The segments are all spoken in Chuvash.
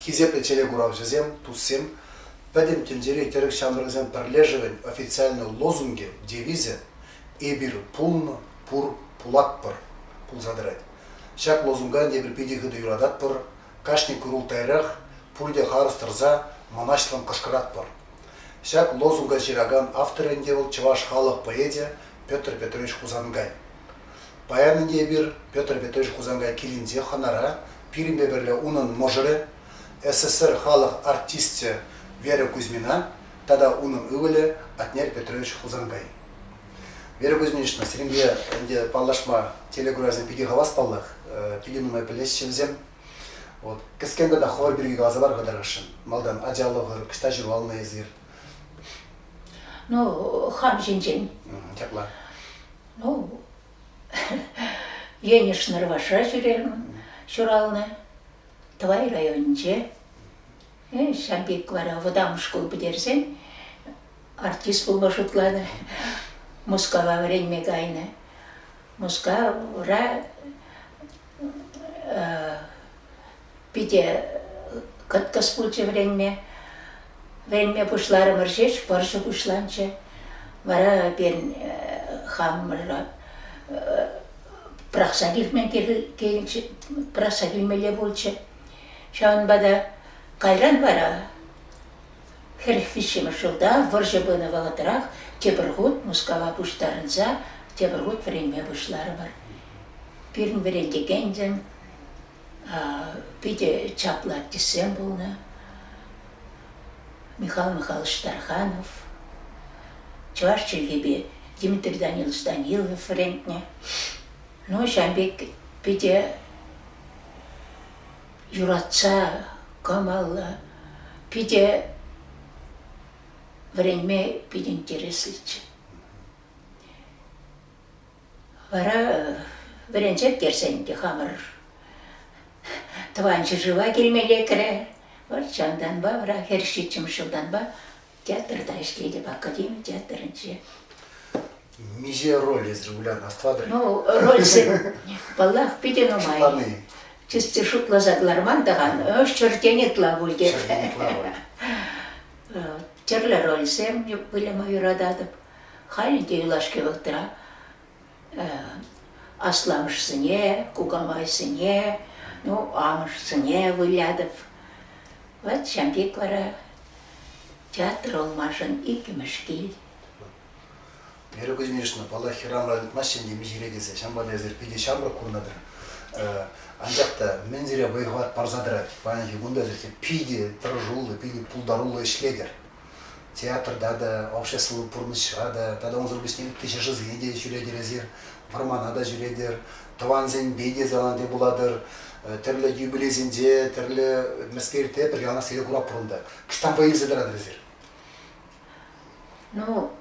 Хисеплӗ телекуравҫӑсем, туссем! Пӗтӗм тӗнчери тӗрӗк ҫамрӑкӗсен пӗрлешӗвӗн официальнӑй лозунгӗ, девизӗ Эпир пулнӑ, пур, пулатпӑр! пулса тӑрать. Ҫак лозунга тепӗр питӗ хытӑ юрататпӑр, кашни курултайрах, пурте харӑс тӑрса, мӑнаҫлӑн кӑшкӑратпӑр. Ҫак лозунга ҫыракан автор ӗнтӗ вӑл чӑваш халӑх поэчӗ Петр Петрович Хусанкай. Паян ӗнтӗ эпир Петр Петрович Хусанкай килӗнче хӑнара, пирӗнпе пӗрле унӑн мӑшӑрӗ, СССР халӑх артисчӗ Вера Кузьмина тата унӑн ывӑлӗ Атнер Петрович Хусанкай. Вера Кузьминична, сирӗнпе ӗнтӗ паллашма телекуравсем питӗ хавас паллах, питӗ нумай пӗлеҫҫӗ вӗсем. Вот. Кӗскен тата хӑвӑр пирки каласа пар-ха тӑрӑшшӑн. Малтан ачалӑхӑр, ӑҫта ҫуралнӑ эсир? Ну, хам ҫинчен. Ҫапла. Ну, Енӗш Нӑрвашра ҫӳрерӗм ҫуралнӑ, Тӑвай районӗнче. Э, ҫав пек вара вӑтам шкул пӗтерсен артист пулма шутланӑ. Мускава вӗренме кайнӑ. Мускавра питӗ кӑткӑс пулчӗ вӗренме. Вӗренме пуҫларӑмӑр ҫеҫ вӑрҫӑ пуҫланчӗ. Вара эпир хамӑра пӑрахса килме пӑрахса килмелле пулчӗ. Ҫавӑнпа та кайран вара хӗрӗх виҫҫӗмӗш ҫулта вӑрҫӑ пынӑ вӑхӑтрах тепӗр хут Мускава пуҫтарӑнса тепӗр хут вӗренме пуҫларӑмӑр. Пирӗн вӗрентекенсем питӗ чаплӑ артистсем пулнӑ. Михаил Михайлович Тарханов, чӑваш чӗлхипе Дмитрий Данилович Данилов вӗрентнӗ. Ну, ҫавӑн пек питӗ юратса, кӑмӑллӑ, питӗ вӗренме питӗ интереслӗччӗ. Вара вӗренсех кӗрсен те хамӑр тӑван ҫӗршыва килме лекрӗ. Вӑл чантанпа, вара хӗр ҫиччӗмӗш ҫултанпа театрта ӗҫлетӗп, академи театрӗнче. Миҫе роль эсир вылян астӑватӑр? Ну, рольсем, паллах, питӗ нумай. Чисти шутласа кӑларман тӑхан, ҫӗртен ытла пуль те. Ҫӗртен ытла роль. Тӗрлӗ рольсем выляма юрататӑп. Халӗ те юлашки вӑхӑтра асламӑшсене, кукамайсене, ну, амӑшсене вылятӑп. Вот ҫамрӑк вара театр olмашӑн иккӗмӗш кил. Эру Кузьминична, паллах, хӗрарӑмра ыйтмасть ҫемье миҫере тесе. Ҫавӑнпа та эсир питӗ ҫамрӑк курнӑ-тӑр. Анчах та мӗн сире вӑй-хӑват парса тӑрать? Паянхи кун та сирте питӗ тӑрӑшуллӑ, питӗ пултаруллӑ ӗҫлетӗр. театрта та, общество пурнӑҫра та тата унсӑр пуҫне ытти ҫӗршывсене те ҫӳретӗр эсир, вӑрмана та ҫӳретӗр, тӑвансемпе те залансемпе пулатӑр. Тӗрлӗ юбилейсенче, тӗрлӗ мӗскерте пӗр яланахсене курап пур унта. Кӑштан вӑй илсе тӑратӑр эсир? Ну,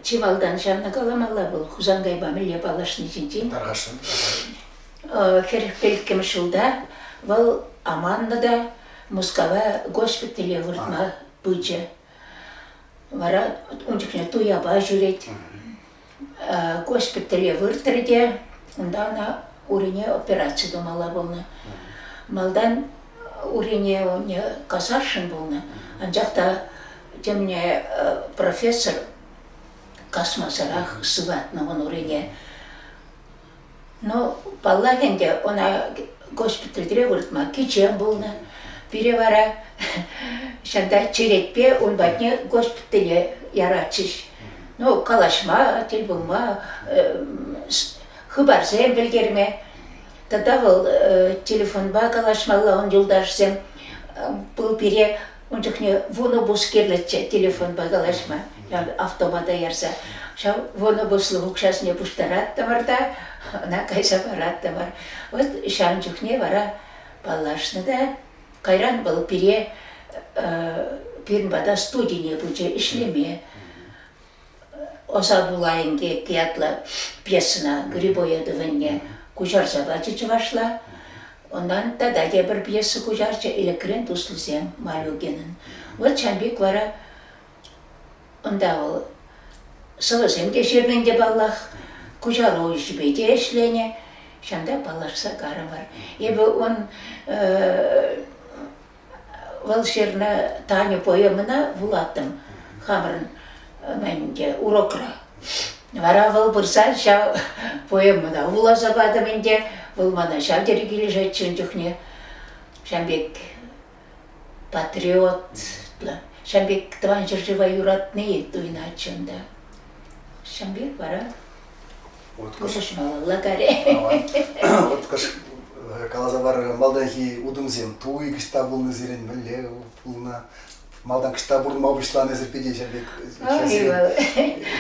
чи малтан ҫавна каламалла вӑл Хусанкайпа мӗнле паллашни ҫинчен. Тархасшӑн. Хӗрӗх пӗлкӗмӗш ҫулта вӑл аманнӑ та Мускава госпитале выртма пычӗ. Вара ун чухне туяпа ҫӳрет. Госпитале выртрӗ те унта ӑна урине операци тумалла пулнӑ. Малтан урине унне касаршӑн пулнӑ, анчах та темне профессор касмасӑрах сыватнӑ ун урине. Ну, паллах ӗнтӗ, ӑна госпитальтре выртма кичем пулнӑ. Пире вара ҫанта черетпе ун патне госпитале яратчӗҫ. Ну, калаҫма, тӗл пулма, хыпарсем пӗлтерме. Тата вӑл телефонпа калаҫмалла ун юлташӗсем. Вӑл пире Ун чухне вунобус кирлӗччӗ телефонпа калаҫма, автомата ярса. Ҫав вунобуслӑх укҫасене пуҫтараттӑмӑр та ӑна кайса параттӑмӑр. Вот ҫавӑн чухне вара паллашнӑ та. Кайран вӑл пире пирӗн пата студине пычӗ ӗҫлеме. Ӑса пула инкек ятлӑ пьесӑна Грибоя тӑванне куҫарса пачӗ чӑвашла. Унтан тата тепӗр пьеса куҫарчӗ Ӗлӗкрен туслисем Малюкинӑн. Вӑт Чампик вара унта вӑл сӑвӑсем те ҫырнӑ ӗнтӗ паллах, куҫаруҫипе те ӗҫленӗ. Ҫавӑнта паллашса карӑмӑр. Эпӗ ун Вӑл ҫырнӑ Таня поэмӑна вулаттӑм хамӑрӑн мӗн ӗнтӗ урокра. Вара вӑл пырса ҫав поэмӑна вуласа патӑм ӗнтӗ. Вӑл мана ҫав тери килӗшетчӗ ун чухне. Ҫавӑн пек патриотлӑ, ҫавӑн пек тӑван ҫӗршыва юратни туйӑнатчӗ унта. Ҫавӑн пек вара Уткӑш. Лагаре. Уткӑш каласа парӑр, малтанхи утӑмсем туй кӑҫта пулнӑ сирӗн, мӗнле пулнӑ? Малтан кӑҫта пурӑнма пуҫланӑсӑр пите ҫав пек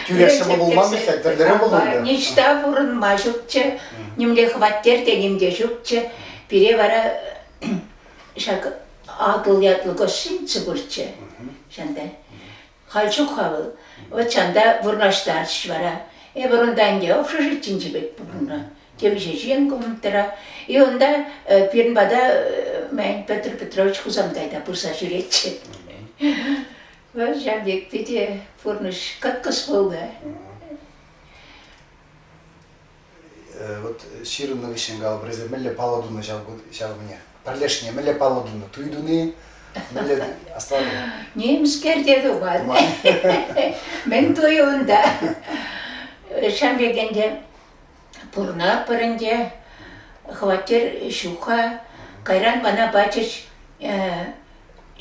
тӳрех пулман пек тӗрлӗрен пулнӑ. Ниҫта пурӑнма ҫукчӗ, нимле хваттер те ним те ҫукчӗ. Пире вара ҫак Атӑл ятлӑ гостиница пурччӗ. Ҫантай. Халь чух-ха вӑл, вӑтчан та вырнаҫтарчӗҫ вара. Эпир унта ӗнтӗ общежитинче пек пурӑннӑ. Темиҫе ҫын коммунтра. И унта пирӗн пата, мӗн, Петр Петрович Хусанкай та пырса ҫӳретчӗ. Вӑл ҫав пек питӗ пурнӑҫ кӑткӑс пулнӑ. Вот ҫырӑннӑ хыҫҫӑн калӑп, эсӗ мӗнле паллӑ тунӑ ҫав кунне? Пӗрлешне мӗнле паллӑ тунӑ? Туй туни? Мӗнле оставлю? Нимскер те тупать. Мӗн туй унта? Ҫам кекенде пурнаппӑр ӗнтӗ, хваттер ҫук-ха. Кайран мана пачӗҫ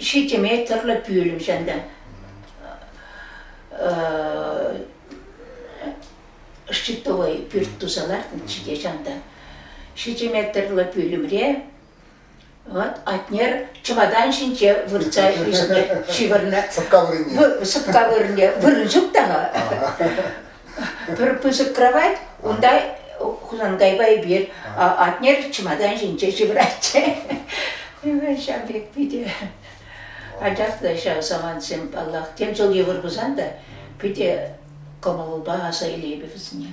ҫичӗ метрлӑ пӳлӗм ҫанта. Щитовой пӳрт туса лартнӑччӗ те ҫанта. Ҫичӗ метрлӑ пӳлӗмре вот Атнер чӑватан ҫинче выртса ӳснӗ, ҫывӑрнӑ. Сӑпка вырӑнне. Сӑпка вырӑнне вырӑн ҫук тана. Пӗр пысӑк кровать, унта Хусанкайпа эпир Атнер чӑматан ҫинче ҫывӑратчӗ. Ҫав пек питӗ ачаклӑ ҫав самантсем, паллах. Тем ҫул йывӑр пулсан та питӗ кӑмӑлупа аса илейпӗ вӗсене.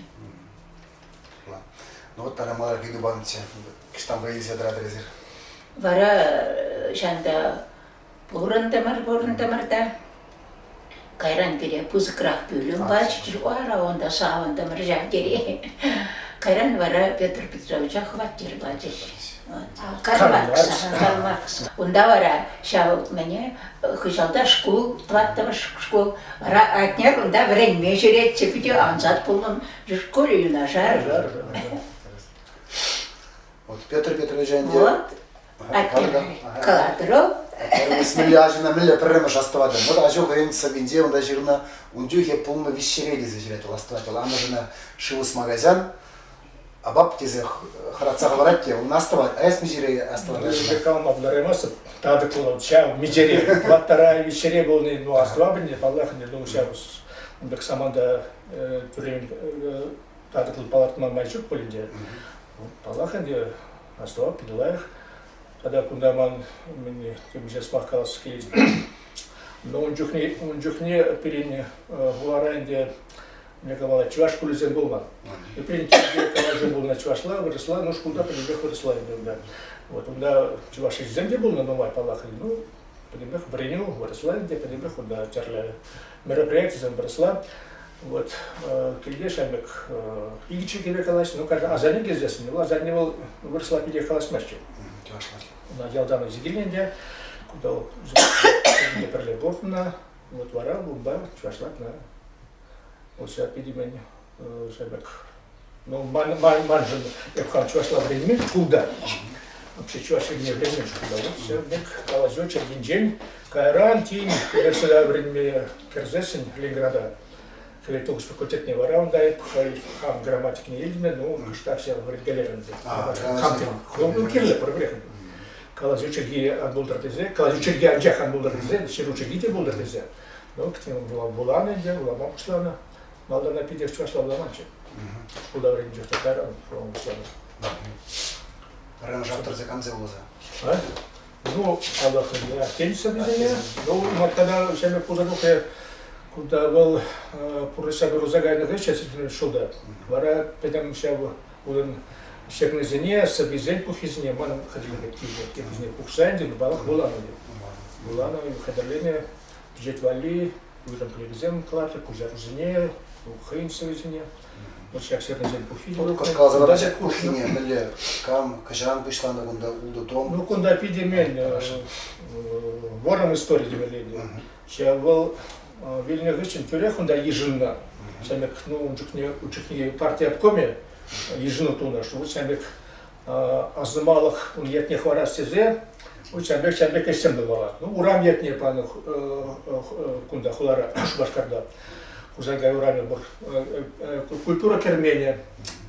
Ну вот тара малархи тупанччӗ. Кӑштанпа илсе тӑратӑр эсир. Вара ҫанта пурӑнтӑмӑр, пурӑнтӑмӑр та. Кайран пире пысӑкрах пӳлӗм паччӑр, вара унта савӑнтӑмӑр ҫав тери. Кайран вара Петр Петровича хваттер пачӗҫ. Кармакс. Кармакс. Унта вара ҫав мӗне хыҫалта шкул, тӑваттӑмӗш шкул. Атне кунта вӗренме ҫӳретчӗ питӗ ансат пулнӑ. Шкуле юнашар. Вот Петр Петрович ӗнтӗ. Вот калатӑр Мӗнле ачана мӗнле пӗрремӗш астӑватӑн? Вот ачу хӑйӗн сӑввинче унта ҫырнӑ ун чухе пулнӑ вещерей тесе ҫырать вӑл астӑвать. Вӑл амӑшӗнә шыв ӑсма кайсан апап тесе хӑратса хӑварать те ун астӑвать а эс миҫере астӑватаҫҫӗ калма пултараймастӑп татӑк пулӑн ҫав миҫере ваттара виҫере пулни ну астӑватӑп паллах ӗнтӗ ну ҫав ун пек саманта тӳрен татӑклӑ палӑртма май ҫук пуль ӗнтӗ паллах ӗнтӗ астӑвап питӗ лайӑх тата кунта ман темиҫе сӑмах калас килет но ун чухне ун чухне пирӗн хулара ӗнтӗ калама чӑваш шкулӗсем пулман. Эприн калаҫу пулнӑ чӑвашла, вырӑсла, ну шкулта пӗтӗмпех вырӑсла ӳкернӗ. Вот унта чӑваш ӗҫӗсем те пулнӑ нумай, паллах, ну, пӗтӗмпех вӗренӳ вырӑсла ӗнтӗ, пӗтӗмпех унта тӗрлӗ мероприятисем вырӑсла. Вот килте шамек икӗ киле калаҫнӑ, ну, каждый асанне кездесни, вӑл асанне вӑл вырӑсла питӗ калаҫмастчӗ. Una Giordano Zigilende, куда пӗрле пурӑннӑ, вот вара бумба чӑвашлатна Ӑсӗ пирмен шепек. Ну, маншӑн эп хан чӑвашла вӗренмен шкулта. Вообще чӑваш чӗлхине вӗренмен шкулта. Все мек калаҫу чӗркинчен кайран тин эреселе вӗренме кӗрсессӗн Ленинграда Хӗле Тугус факультетне вара унта эп хай хам грамматикне илме, ну, штакся вӗренкелерӗм. Ну, кирлӗ проблема. Калаҫу чӗлхи ан пултӑр тесе, калаҫу чӗлхи анчах ан пултӑр тесе, ҫыру чӗлхи те пултӑр тесе. Ну, вуланӑ ӗнтӗ, вулама пуҫланӑ. Малтанах питӗ чӑваш вуламанччӗ. Шкул таврӑнчӗ, кайран вулама пуҫланӑ. Ренжав тӑрса камзе вуласа? Ну, аллахӑнне аттенсӗрсене, ну, маттана ҫемӗ пултарухе, кунта вӑл пурнӑҫа курса кайнӑ хыҫҫӑн шулда. Вара пӗтӗм ҫав Унӑн ҫӗклисене, сӑввисен пуххисене ман хатӗрлеме тивнӗ. Теприсене пухса ӗнтӗ, паллах, вуланӑ пулман. Вуланӑ, хатӗрленӗ пичет валли уйрӑм пӗлӗвӗсем кӑлартрӗ, куҫарусене, хӑйӗн сӑввисене. Вот ҫак ҫӗклисен пуххи те вӑл. Кӑлкасӑра ҫак пуххине мӗнле, кам, кӑҫан пуҫланӑ кунта ултӑ том? Ну, кунта питӗ мел. Вӑрӑм истори темелле. Вӑл вилнӗ хыҫҫӑн тӳрех унта йышӑннӑ. Ҫамрӑк, ну, ун чухне, ун чухне парти обкомӗ йышӑну тунӑ, что вот ҫамрӑк асӑмалӑх ун ятне хӑварас тесе вот ҫамрӑк ҫамрӑк ӗҫсем тумалла. Ну, урам ятне панӑ кунта хулара Шупашкарта. Хусанкай урамӗ пур. Культура керменӗ,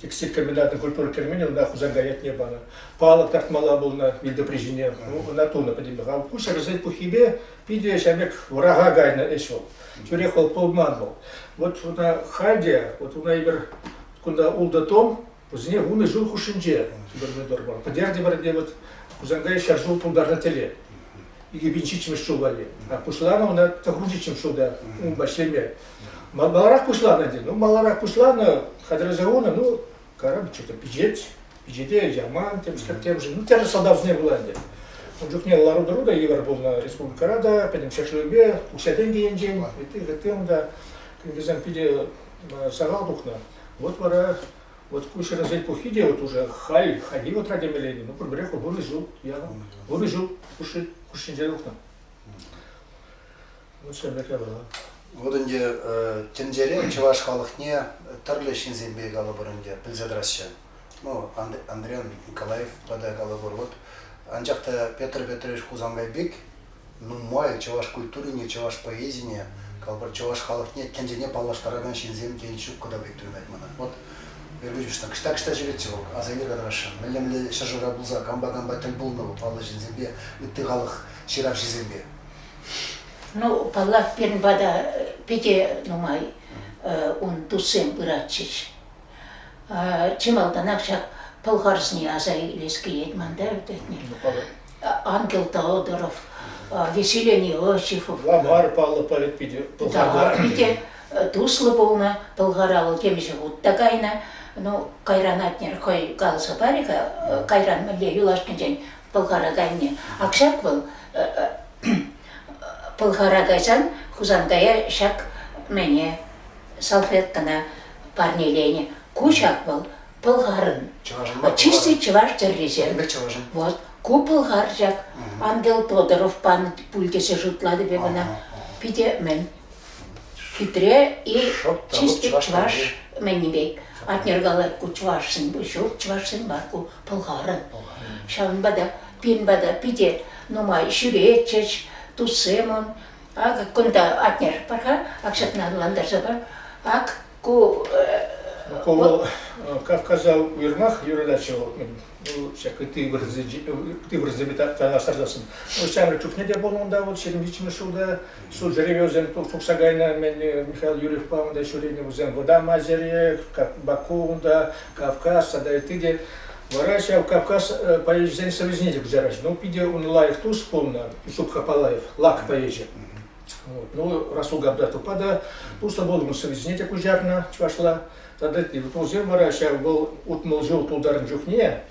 текстиль комбинатӑн культура керменӗ унта Хусанкай ятне панӑ. Палӑк тартмалла пулнӑ вилтӑпри ҫине. Ну, ӑна тунӑ пӗтӗмпех. Ку ҫӗрсен пуххипе Питӗ ҫав пек вӑраха кайнӑ ӗҫ вӑл. Тӳрех вӑл пулман вӑл. Вот вона халь те, вот вона эпир кунта ултӑ том, вӗсене вунӑ ҫул хушшинче губернатор бар. Пӗтерте-пӗрте вот Хусанкай ҫӗр ҫул тултарнӑ тӗле. Икӗ пин ҫиччӗмӗш ҫул валли. А пуҫланӑ ӑна тӑхрунҫиччӗм ҫулта ун ҫӗлме. Маларах пуҫланӑ тен. Ну, маларах пуҫланӑ, хатӗрлесе хунӑ, ну, Короб что-то пичет, пичете яман, темскер темшӗн. Ну, тӗрлӗ сӑлтавсене пула ӗнтӗ. Ун чухне лару-тӑру та йывӑр пулнӑ республикӑра та, пӗтӗм ҫӗршывӗпе, укҫа-тенкӗ енчен, ытти унта вӗсем питӗ сахал тухнӑ. Вот вара вот ку ҫӗрӗсен пуххи те вот уже халь, хальхи вӑтра темелле, ну пурпӗрех вырӑс ҫул, пурӑс ҫул хушшинче тухнӑ. Лучшая бакалавра. Вот ӗнтӗ тӗнчере чӑваш халӑхне тӗрлӗ ҫынсемпе калӑпӑр ӗнтӗ пӗлсе тӑраҫҫӗ. Ну, Андрян Николаев тата калӑпӑр. Вот анчах та Петр Петрович Хусанбай пек нумай чӑваш культурине, чӑваш поэзине, калӑпӑр, чӑваш халӑхне тӗнчене паллаштаракан ҫынсем тен ҫук кӑна пек туйӑнать мана. Вот Вербичушна кӑҫта кӑҫта ҫӳретчӗ вӑл, аса иле кӑтарасшӑн. Мӗнле мӗнле ҫӗршывра пулса кампа кампа тӗл пулнӑ вӑл паллӑ ҫынсемпе, ытти халӑх ҫыравҫисемпе. Ну, паллах, пирӗн пата питӗ нумай ун туссем пыратчӗҫ. Чи малтанах ҫак Пӑлхарсене аса илес килет ман та ӗртетне. Ангел Теодоров, Веселие Иосифов. Ламар паллӑ поэт питӗ. Да, питӗ туслӑ пулнӑ. Пӑлхар алӑ темиҫе хут та кайнӑ. Ну, кайран атнер хӑй каласа парӗ-ха. Кайран мӗнле юлашкинчен Пӑлхараканне. Ак ҫак вӑл Пӑлхара кайсан Хусанкая ҫак мене салфеткӑна парнеленӗ. Ку ҫак вӑл Пӑлхарын. Чисти чӑваш тӗррисем. Вот. Ку Пӑлхар ҫак Ангел Тодоров панӑ пуль тесе шутлатӑп эп ӑна. Питӗ мӗн хитре и чисти чӑваш мӗнни пек. Атнергалар ку чӑвашсен, ҫук чӑвашсен бар ку пӑлхарӗ. Ҫавӑнпа та пин пата питӗ нумай ҫӳретчӗҫ туссемӑн. Акӑ кунта атнер пар-ха, ак ҫакна ӑнлантарса пар. Ак ку Ку вӑл Кавказа уйрӑмах юрататчӗ вӑл. Вӑл ҫак ытти вырӑнсемпе танлаштарсассӑн. Ҫамрӑк чухне те пулнӑ унта, вӑл 70 ҫулта Ҫулсеренесем тухса кайнӑ-мӗн Михаил Юрьевпа унта ҫӳренӗ. Вӗсем Вӑтама Ҫӗре, Баку унта, Кавказ тата ытти те. Вара ҫав Кавказ поэчӗсен совечӗне те куҫараҫҫӗ. Ну, питӗ ун лайӑх тус пулнӑ Ҫук Хапалаев, Лак поэчӗ. Вот. Ну, Расул Габдатовпа та туслӑ пулнӑ, совечӗне те куҫарнӑ чӑвашла. Тата тепӗр вӑл ҫав вӑл утмӑл ҫул тултарнӑ чухне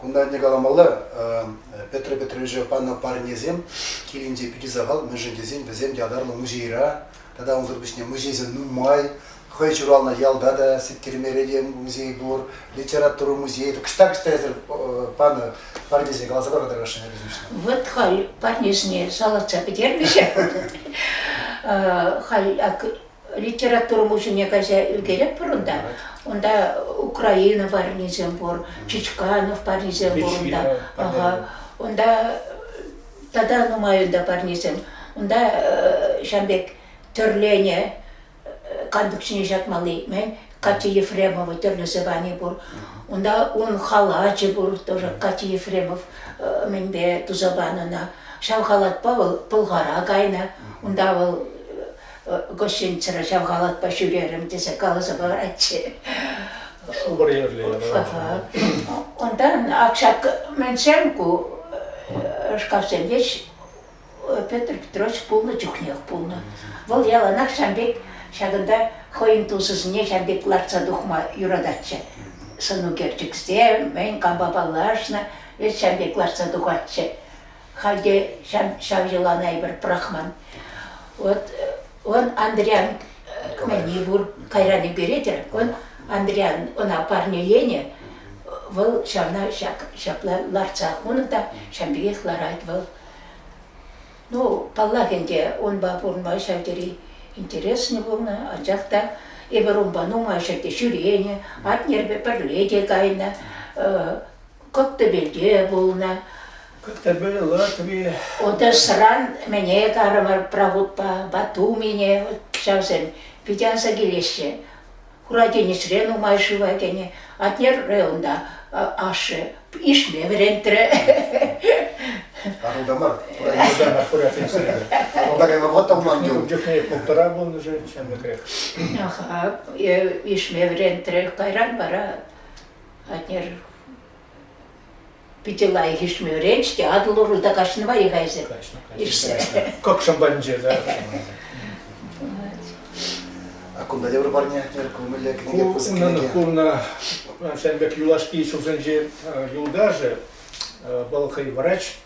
Кунта ӗнтӗ каламалла, Петр Петровича панӑ парнесем килӗнче питӗ сахал, мӗншӗн тесен вӗсем ятарлӑ музейра тата унсӑр пуҫне музейсем нумай. Хӑй ҫуралнӑ ялта та Сеткермерекен музей пур, литература музейӗ. Кӑҫта-кӑҫта эсир панӑ парнесем каласа пар хатӗррашне пӗтӗмшне. Вот халь парнесне шалӑртса пӗтермӗҫ. Халь Литература музейне кайса ӳкеретпӗр унта. Унта Украина парнисем пур, Чичканов парнисем пур унта. Ага. Унта тата нумай унта парнесем. Унта ҫам пек тӗрлене кантӑк ҫине ҫакмалли, мен Катя Ефремова тӗрлӗ звани пур. Унта ун халачӗ пур тоже Катя Ефремов мӗнпе туса панӑ ӑна. Ҫав халатпа вӑл Пӑлхара кайнӑ. Унта вӑл Госченчера ҫав халатпа ҫӳрерӗм тесе каласа паратчӗ. Шупӑр ерле Унта акшак мӗншӗн ку шкафсемпе Петр Петрович пулнӑ чухнех пулнӑ. Вӑл яланах ҫам пек ҫакӑнта хӑйӗн тусӗсене ҫам пек лартса тухма юрататчӗ. Сӑнукерчӗксем, мӗн кампа паллашнӑ, вӗт ҫам пек лартса тухатчӗ. Халь те ҫав, ҫав йӑлана эпир пӑрахман. Вот он Андриян мӗни пур, кайран ӳкеретӗр. Он Андриян, ӑна парнеленӗ. Вӑл ҫавна ҫак, ҫапла лартсах унӑн та ҫавӑн пекех ларать вӑл. Ну, паллах ӗнтӗ, унпа пурӑнма ҫав тери интереснӗ пулнӑ, анчах та эпир унпа нумай ҫӗрте ҫӳренӗ, атнерпе пӗрле те кайнӑ. Коттебельте пулнӑ. Коттебель Латви. Одессӑран мӗне карӑмӑр Прагутпа Батумине ҫавсем питӗ аса килеҫҫӗ. Хуракенесре нумай шыва кӗнӗ. Атнерре унта ашшӗ ишме вӗрентрӗ. Карунта мар, Юрта хуракенесре. Карунта кайма вӑхӑт та пулман юн. Ун чухне пултӑра пулнӑ же ҫамрӑкрех. Аха, ишме вӗрентрӗ. Кайран вара Атнер питӗ лайӑх ишмӗрен-ҫке Атӑл урлӑ каҫнӑ мар-и-ха эсӗ? Каҫнӑ, каҫнӑ. Кӑкшӑм панче, да. А кунта тепӗр парне, Атнер, кӑмӑллӗ кӗнеке пысӑк кӗнеке. Курнӑ, ҫавӑн пек юлашки ҫулсенчи юлташӗ, вӑл хӑй врач,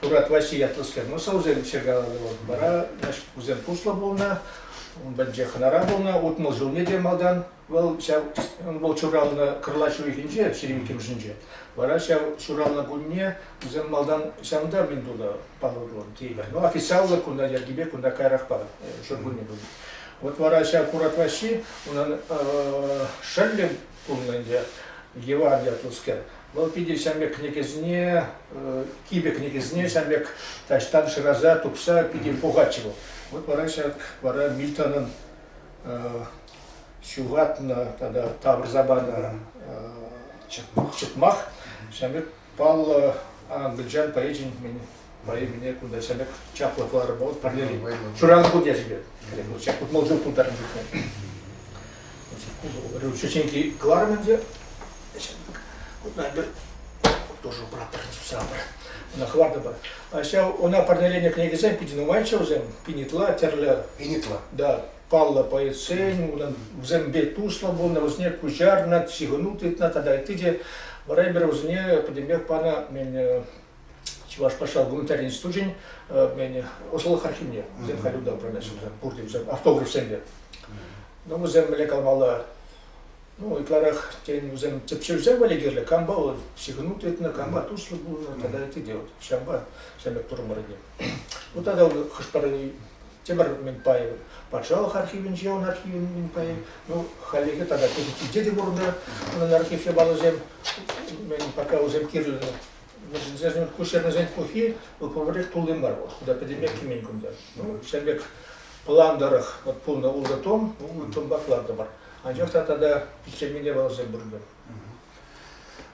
Турат Ваҫи ятлӑскер носаусем чиркаланӑ вӑл. Вара, значит, кусем туслӑ пулнӑ, ун патӗнче хӑнара пулнӑ, утмӑл ҫулне те малтан Вӑл ҫав вӑл ҫуралнӑ кӑрлач уйӑхӗнче, ҫирӗм иккӗмӗшӗнче. Вара ҫав ҫуралнӑ кунне вӗсем малтан ҫавӑнта мӗн тунӑ палӑру теймӗр. Но официаллӑ кунта йӗркипе кунта каярахпа ҫуркунне пулнӑ. Вот вара ҫав Курат Ваҫҫи унӑн шӑллӗ пулнӑ ӗнтӗ, Еван ятлӑскер. Вӑл питӗ ҫамрӑк кӗнекесене, кипӗ кӗнекесене ҫамрӑк таҫтан шыраса тупса питӗ пухатчӗ вӑл. Вот вара ҫак вара Мильтонӑн ҫухатнӑ тата тавӑрса панӑ чӑтмах ҫавӑн пек паллӑ англичан поэчӗн поэмине кунта ҫавӑн пек чаплӑ кӑларӑм вӑл парнели шыран хут ячӗпе ҫак утмӑл ҫул пултарнӑ ҫӳҫенки кӑларӑм ӗнтӗ тоже братер сабр ӑна хӑвартӑпӑр ҫав ӑна парнеленӗ кӗнекесем питӗ нумайччӗ вӗсем пинитла тӗрлӗ пинитла да паллӑ полицейсен, унӑн вӗсемпе туслӑ пулнӑ, вӗсене куҫарнӑ, ҫыхӑну тытнӑ тата ытти те вӗренпӗр вӗсене пӗтӗмпех панӑ Чӑваш патша гуманитарий институчӗн ӑслӑлӑх архивне. Вӗсем халь унта управляющи пурте вӗсем автографсемпе. Ну, вӗсем мӗнле калмалла, ну, ытларах, тен, вӗсем тӗпчевсем валли кирлӗ, кампа вӑл ҫыхӑну тытнӑ, кампа туслӑ пулнӑ тата ытти те вот ҫавӑнпа ҫамрӑк турмӑрне. Ну, тата хӑш-пӗр Тимӗр Миңпаев, патшалӑх архивӗнче ун архивӗн Миңпаев, ну, хальлӗхе тата пӗчӗккинче те пурӑннӑ унӑн архив япаласем, мен пока усем кирлӗ. Вӗсен куҫарнисен пухи вӑл пурнерех тулли мар вӑл. Кунта пӗтӗмех кӗмен кунта. Ну, ҫав пек план тӑрӑх вот пулнӑ ултӑ том, ултӑ томпах лартӑмӑр. Анчах та тата пиччемене валасем пурӑннӑ.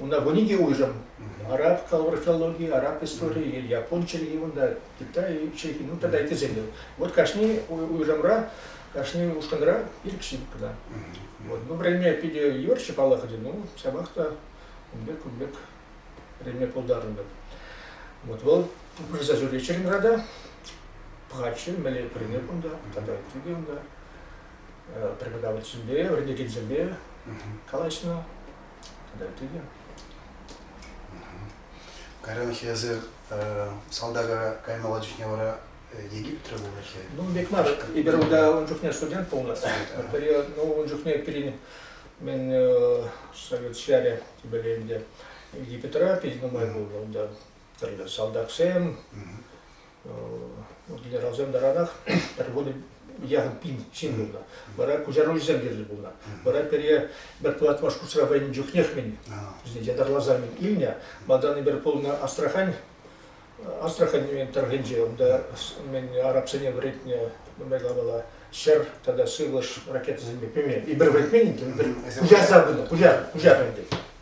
Унта вӗни те уйрӑм. Араб калӑпӑр филологи, араб историйӗ, япон чӗлхи кунта, китай чӗлхи, ну тата ыттисем те. Вот кашни уйрӑмра, кашни ушкӑнра ирӗксӗр кӑна. Вот. Ну время питӗ юрччӗ паллахӑтӗ, ну ҫапах та кун пек кун пек время пултарӑнтӑм. Вот вӑл пырса сөйлечерин рада, пхачы меле прине кунта, тата тӳге унта, преподавательсемпе, вӗренекенсемпе калаҫнӑ, Пӗтертӗ те. Кайранхи эсир салтака каймалла чухне вара Египетре пулать-ха. Ну, бек мар. Эпир унта ун чухне студент пулнӑ. Ну, ун чухне пирӗн мен совет ҫарӗ типӗле ӗнтӗ Египетра пит нумай пулнӑ унта. тӗрлӗ салтаксем, генералсем таранах пӗр вунӑ яхӑн пин ҫын пулнӑ. Вара куҫаруҫӑсем кирлӗ пулнӑ. Вара пире пӗр тӑват маршрутра вӗреннӗ чухнех мин вӗсене ятарласа мин илнӗ. Малтан эпир пулнӑ Астрахань Астрахань тӑрӑхӗнче унта арабсене вӗретнӗ майлапала ҫӗр тата сывлӑш ракетӑсемпе пӗме. Эпир вӗретмен иккен, эпир пуҫарса пынӑ, пуҫар, пуҫар ӗнтӗ.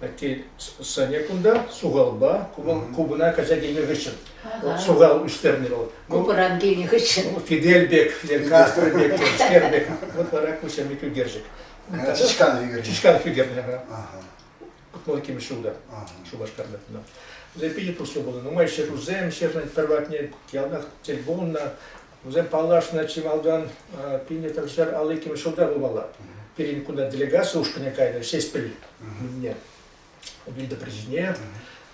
Атте сӑнӗ кунта сухалпа, купӑна кайса килнӗ хыҫҫӑн сухал ӳстернӗ вӑл. Купӑран килнӗ хыҫҫӑн. Фидель пек, лекастр пек, скер пек. Вот вара ку ҫемlik ӳкерчӗк. Чышкан ӳкерчӗк. Чышкан ӳкерчӗк. Вӑл кимӗш ҫулта, Шупашкарта. Лепи пуҫлу булы. Нумай ҫӗрусем, ҫӗрнӗн пӗр патне яланах тӗл пулнӑ. Вӗсем паллашнӑ чи малтан Пинетӑн ҫӗр алликим ҫулта пулмалла. Пирӗн кунта делегация ушкӑнӗ кайнӑ Ҫеҫпӗл кунне. Вида причине.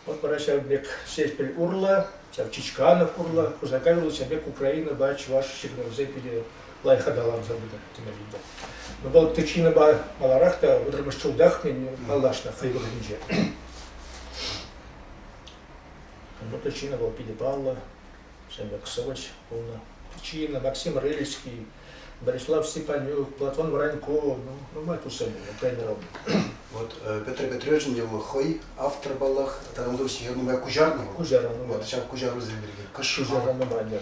Вот вара ҫав пек Ҫеҫпӗл урлӑ, ҫав Чичканов урлӑ, Кушакай урлӑ ҫав пек Украинӑпа чӑваш ҫыхӑнӑвӗсем пире лайӑх аталанса пынӑ теме вида. Но вӑл причинӑпа маларах та вӑтӑрмӗш ҫултах паллашнӑ хӑй вӑхӑтӗнче. Вот причина была пиле палла. Шембексович пулнӑ. Чина, Максим Рыльский, Борислав Степанюк, Платон Вранько, ну, нумай тусем тренером. Вот э, Петр Петровичӑн его хӑй автор баллах тата унсӑр ҫӗр нумай куҫарнӑ вӑл. Куҫарнӑ нумай. Вот ҫав куҫарусем пирки. Куҫарнӑ нумай.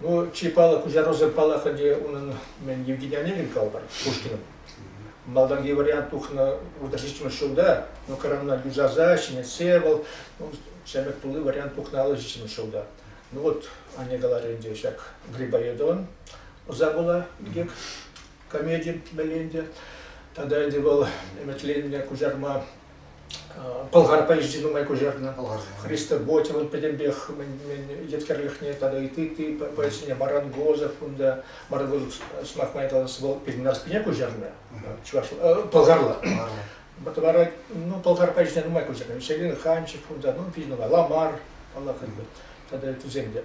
Ну, чи паллӑ куҫарусем паллах ӗнтӗ унӑн мен Евгений Онегин калӑпӑр Пушкинӑн. Малтанхи вариант тухнӑ выртаҫиччӗмӗш ҫулта, но коронана юсаса, ҫӗнетсе вӑл ну, ҫӗмӗк тулли вариант тухнӑ аллӑ ҫулта. Ну вот, Аня каларӗ ӗнтӗ ҫак Грибоедован ӑса пула инкек комедин мелінде. Тада ӗнтӗ вӑл ӗмӗтленнӗ куҫарма Пӑлхар поэзи нумай куҫарнӑ. Христоботьевӑн пӗтӗмпех мӗн еткерлӗхне тата ытти поэтсене Марангозов унта Марангозов сӑмах май калас вӑл пирӗн Аспине куҫарнӑ чӑваш пӑлхарла. Вара ну пӑлхар поэзине нумай куҫарнӑ. Селин Ханчев унта ну пиҫ нумай Ламар паллах тата ыттисем те.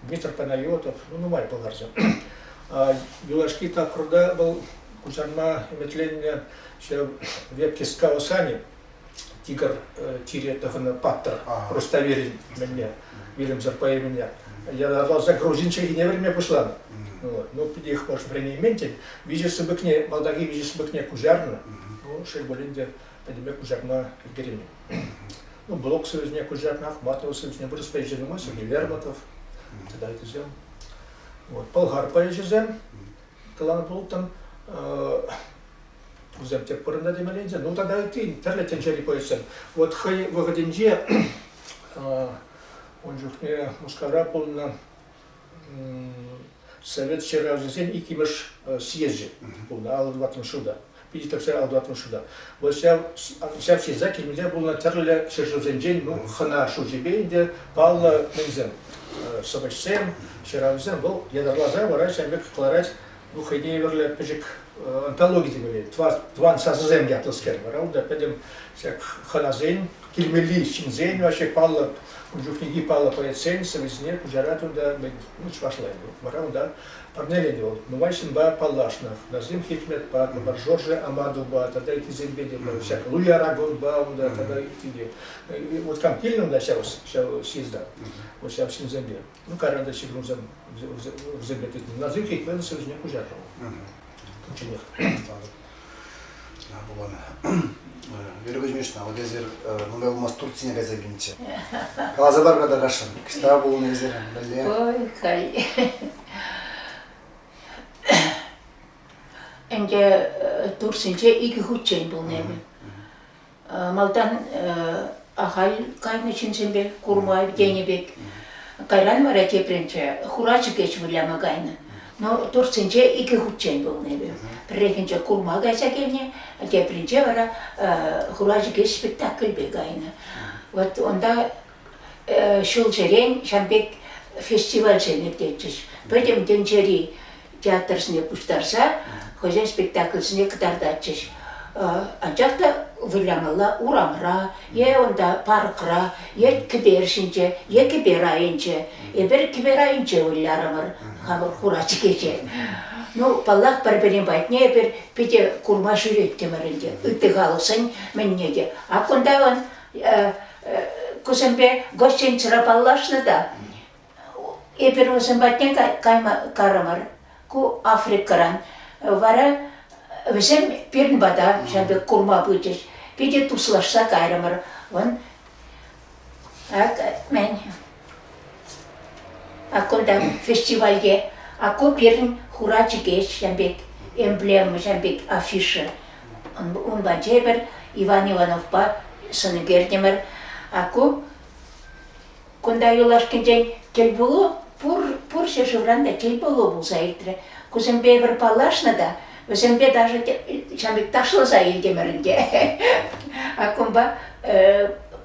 Дмитрий Панайотов ну, нумай пӑлхарчӗ. Юлашки тапхӑрта вӑл куҫарма ӗмӗтленнӗ вепке скаусани тигр чире тӑхӑннӑ паттӑр Руставелин мӗнне вилӗмсӗр поэмине ятарласа грузин чӗлхине вӗрме пуҫланӑ. Ну, ну их может времени виҫӗ сыпӑкне, малтанхи виҫӗ сыпӑкне куҫарнӑ, ну, шел пулин те, пӗтӗмпе куҫарма ӗлкӗреймен. Ну, блог сервисне Кужакнах, Батлов сервисне вырӑс поэчӗ нумай, Сергей Вербатов тата ытисем. Вот, болгар поэчӗсем каланӑ пулӑттӑм. Вӗсем тек пырӑнта темелле Ну тата ытти тӗрлӗ тӗнчери поэтсем. Вот хӑй вӑхӑтӗнче ун чухне Мускавра пулнӑ Совет ҫыравҫисен иккӗмӗш съезчӗ пулнӑ алӑ тӑваттӑмӗш ҫулта. Питӗ тӗпсен алӑ тӑваттӑмӗш ҫулта. Вӑл ҫав ҫав ҫырса килмелле пулнӑ тӗрлӗ ҫӗршывсенчен ну, хӑна шучӗпе ӗнтӗ паллӑ мӗнсем сӑвӑҫсем, ҫыравҫӑсем вӑл ятарласа вара ҫав пек кӑларать Ну, хӑйне евӗрлӗ пӗчӗк онкологи теме тӑван сасӑсем ятлӑскер вара унта пӗтӗм ҫак хӑнасен, килмелли ҫынсен, вообще паллӑ, ун чухнехи паллӑ поэтсен сӑвӑсене куҫарать унта чӑвашлай. Вара унта парнеленӗ вӑл нумай ҫынпа паллашнӑ. Назим Хикметпа, Жорже Амадовпа тата ыттисемпе те ҫак Луи Арагонпа унта тата ытти те. Вот там килнӗ унта ҫав ҫав съезда, вот ҫав ҫынсемпе. Ну, кайран та ҫыхӑнса урса кӗртетни. Назир Хейкман ҫӗршне куҫаррӗ. Кучченех. Вербович Мишна, вот эсир нумай пулмасть Турцине кайса килнӗччӗ. Каласа пар-ха та Рашин, кӑҫта пулнӑ эсир мӗнле? Ой, халь. Ӗнтӗ Турсинче икӗ хутчен пулнӑ эпӗ. Малтан ахаль кайнӑ ҫынсемпе курма тенӗ пек. Кайран вара тепринче хурачӑкеч выляма кайнӑ. Но туртсенче икӗ хутчен пулнӑ эпӗ. Пӗррехинче курма кайса килнӗ, тепринче вара хурачӑкеч спектакльпе кайнӑ. Вот унта ҫулсерен ҫав пек фестивальсем иртетчӗҫ. Пӗтӗм тӗнчери театрсене пуҫтарса хӑйсен спектакльсене кӑтартатчӗҫ. Анчах та вылямалла урамра е унта паркра е кӗпер ҫинче е кӗпер айӗнче. Эпир кӗпер айӗнче вылярӑмӑр хамӑр хура чӗкеҫе. Ну, паллах, пӗр-пӗрин патне эпир питӗ курма ҫӳреттӗмӗр ӗнтӗ. Ытти халӑхсен мӗнне те. А кунта вон кусемпе гостинцра паллашнӑ та эпир вӗсем патне кайма карӑмӑр. Ку Африкӑран. Вара вӗсем пирӗн пата ҫав пек курма пычӗҫ. Питӗ туслашса кайрӑмӑр. Вӑн, ак, мен А кунта фестивальте «Аку пирӗн хура чӗкеҫ» ҫын пек эмблема ҫын пек афиша. Унпа тепӗр Иван Ивановпа сӑн кӗртӗмӗр. Аку кунта юлашкинчен тӗлпулу пур, пур ҫӗршывран та тӗлпулу пулса иртрӗ. Кусемпе эпир паллашнӑ та вӗсемпе даже ҫын пек ташласа илтӗмӗр ӗнтӗ. А кунпа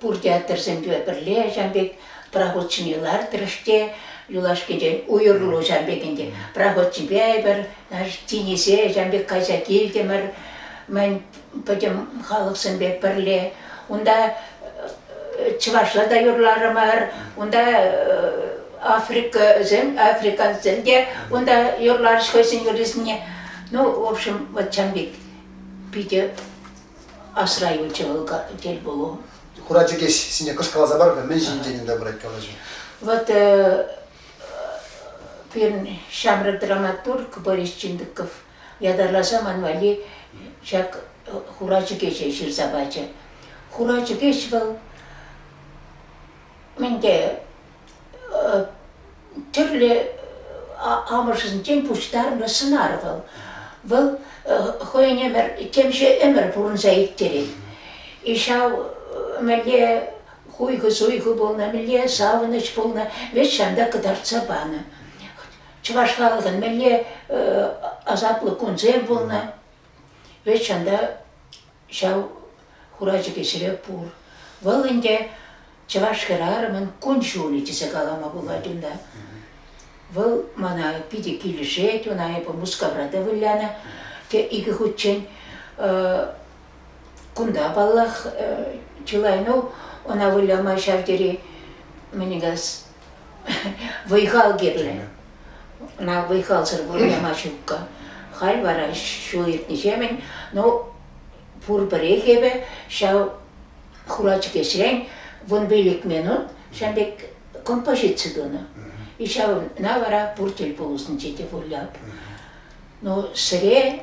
Пурте аттӑрсемпе пӗрле ҫав пек проходчине лартрӑш те юлашкинчен уйрӑлу ҫав пек ӗнтӗ. Проходчипе эпир тинӗсе ҫав пек кайса килтӗмӗр. Мӗн пӗтӗм халӑхсемпе пӗрле. Унта чӑвашла та юрларӑмӑр, унта африкӑсем, африкансем те унта юрларӗҫ хӑйсен юррисене. Ну, в общем, вот ҫав пек питӗ Асра юлчӗ вӑл тӗлпулу. Хура чӗкеҫ ҫине кӑшкӑласа парнӑ, мӗн ҫинчен унта пырать калаҫу? Вот э, пирӗн ҫамрӑк драматург Борис Чиндыков ятарласа ман валли ҫак хура чӗкеҫе ҫырса пачӗ. Хура чӗкеҫ вӑл мӗн те тӗрлӗ амӑшӗсенчен пуҫтарнӑ сӑнар вӑл. Вӑл хӑйӗн ӗмӗр, темиҫе ӗмӗр пурӑнса ирттерет. И ҫав мӗнле хуйхӑ-суйхӑ пулнӑ, мӗнле савӑнӑҫ пулнӑ, вӗт ҫантӑк кӑтартса панӑ. Чӑваш халӑхӑн мӗнле асаплӑ кунсем пулнӑ, вӗт ҫанта ҫав хурачӑкӗ ҫӗре пур. Вӑл ӗнтӗ чӑваш хӗрарӑмӗн кун-ҫулӗ тесе калама пулать унта. Вӑл мана питӗ килӗшет, ӑна эпӗ Мускавра та вылянӑ. Те икӗ хутчен кунта, паллах, чылай. Ну, ӑна выляма ҫав тери, мӗн калас, Вӑй-хал кирлӗ. Ӑна вӑй-халсӑр пурӑнма ҫукка. Халь вара ҫул иртнӗҫемӗн, ну, пурпӗрех эпӗ ҫав хура чӗкеҫрен вунпилӗк минут ҫав пек композици тунӑ. И ҫавна вара пур тӗл пулӑсенче те вылят. Ну, сире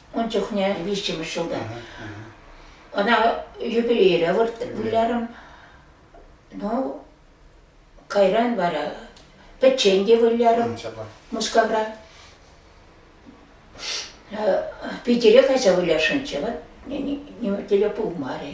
Ун чухне виҫҫӗмӗш ҫулта. Ӑна юбилейре вылярӑм. Ну, кайран вара пӗччен те вылярӑм Мускавра. Питӗре кайса вылясшӑнччӗ, вот теле пулмарӗ.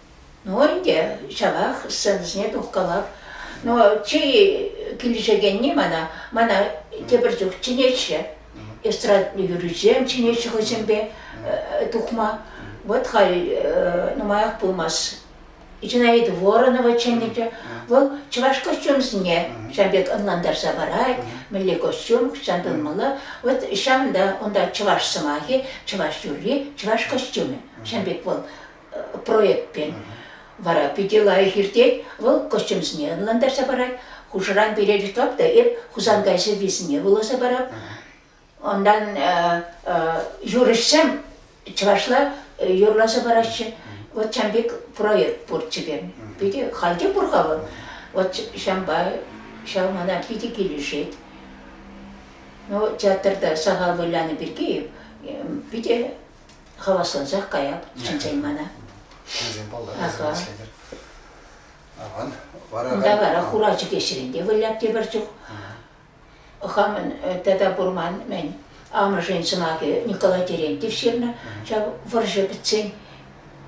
Ну ӗнтӗ ҫавах сценӑсене тухкалап. Но чей килӗшекенни мана, мана тепӗр чух чӗнеҫҫӗ. Эстрадный юррисем чӗнеҫҫӗ хӑйсемпе тухма. Вот халь нумаях пулмасть Зинаида Воронова чӗннӗччӗ. Вӑл чӑваш костюмсене ҫав пек ӑнлантарса парать, мӗнле костюм, ҫавӑн пулмалла. Вот ҫавӑнта унта чӑваш сӑмахӗ, чӑваш юрри, чӑваш костюмӗ. Ҫавӑн пек вӑл проектпен. Вара питӗ лайӑх иртет. Вӑл костюмсене ӑнлантарса парать. Хушӑран пире реклама та эп Хусанкай сӑввисене вуласа парап. Ондан юрӑҫсем чӑвашла юрласа параҫҫӗ. Вот чам пек проект пурччӗ пем. Питӗ халде пур-ха вӑл. Вот ҫампа ҫав мана питӗ килӗшет. Ну, театрда сахал вылянӑ пирки питӗ Хаваслансах каяп, чӗнсен мана. Аха. Аван. Унта вара хура чӗкеҫрен те выляп те пӗр чух. Хамӑн тата пурман мен амӑшӗн сӑмахӗ Николай Терентьев ҫырнӑ. Ҫав вӑрҫӑ пӗтсен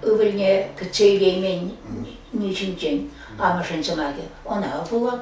ывӑлне кӗтсе илеймен ни ҫинчен амӑшӗн сӑмахӗ. Ӑна пулап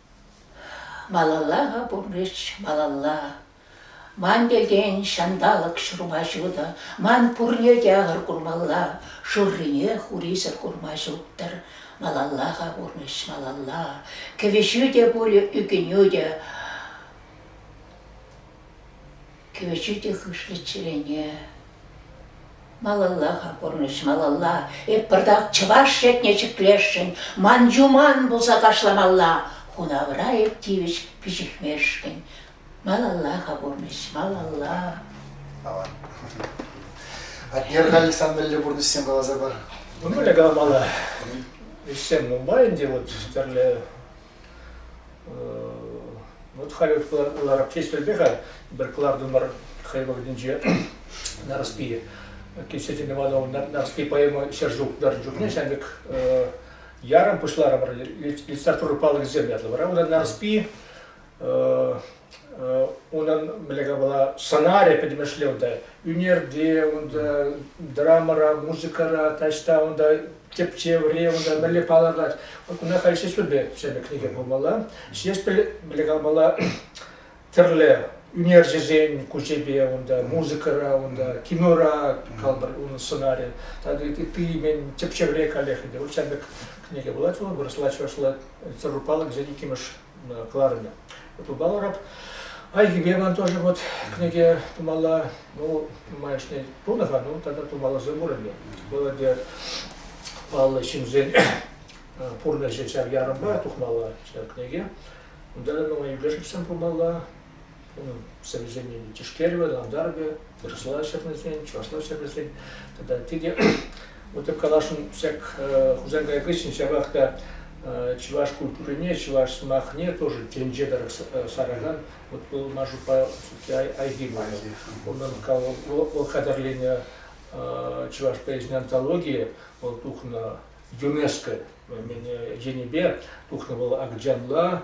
Малалла пурнӑҫ, малалла. Ман пиртен ҫанталӑк ҫурма ҫутӑ, ман пурне те ахӑр курмалла, шуррине хурисӗр курма ҫуттӑр. Малалла-ха пурнӑҫ, малалла. Кӗвӗҫӳ те пулӗ, ӳкӗнӳ те. Кӳрши те хышлӑ чӗрене. Малалла-ха пурнӑҫ, малалла. Эп пӑртак чӑваш шетне ҫӗклесшӗн. Ман юман пулса кашламалла. Хунавра эп тивӗҫ пиҫӗхмешкӗн. Малалла-ха пурнӑҫ, малалла. Аван. Атнер Александр мӗнле пурнӑҫсем каласа пар. Ну, мӗн калмалла? Ӗҫсем нумай ӗнтӗ, вот тӗрлӗ Вот халӗ кӑларӑм ҫеҫпелпе-ха, пӗр кӑлартӑмӑр хӑй вӑхӑтӗнче Нарспи кисетӗнӗ ватӑ Нарспи поэма ҫӗр ҫултарӑн чухне ҫав пек ярӑм пуҫларӑмӑр литература палӑкӗсем ятлӑ вара унта Нарспи унӑн мӗнле была сценарий пӗтӗмӗшле унта ӳнерте унта драмӑра музыкӑра таҫта унта тӗпчевре унта мӗнле палӑртать куна халь ҫеҫпӗлпе ҫӗнӗ кӗнеке пулмалла ҫеҫпӗл мӗнле калмалла тӗрлӗ ӳнерҫӗсен кучепе унта музыкӑра унта кинора калпӑр унӑн сценарийӗ тата ытти тӗпчевре каллех ӗнтӗ вӑл ҫамрӑк кӗнеке пулать вӑл вырӑсла чӑвашла царурпалӑк иккӗмӗш кӑларнӑ. Пулмаларах. Айхипе ман тоже вот книге тумалла, ну, майшне тунӑ-ха, ну, тогда тумалласа мурӑмӗ. Молодец. Паллӑ ҫынсен пурнӑҫӗ ҫав ярӑмпа тухмалла ҫав книге. Унта, ну, и ближечсем пулмалла, совещание тишкервӗ, лантарвӗ, вырӑсла ҫырнисен, чӑвашла ҫырнисен тата тете вот так калашӑн всяк Хусанкай кыҫҫӑн ҫавах та чӑваш культурине, чӑваш сӑмахне тоже тӗнче тӑрӑх саракан вот был Машупа айги было. Унӑн вӑл хатӗрленӗ чӑваш поэзийӗн антологийӗ вӑл тухнӑ ЮНЕСКО мене енӗпе тухнӑ вӑл Акджанла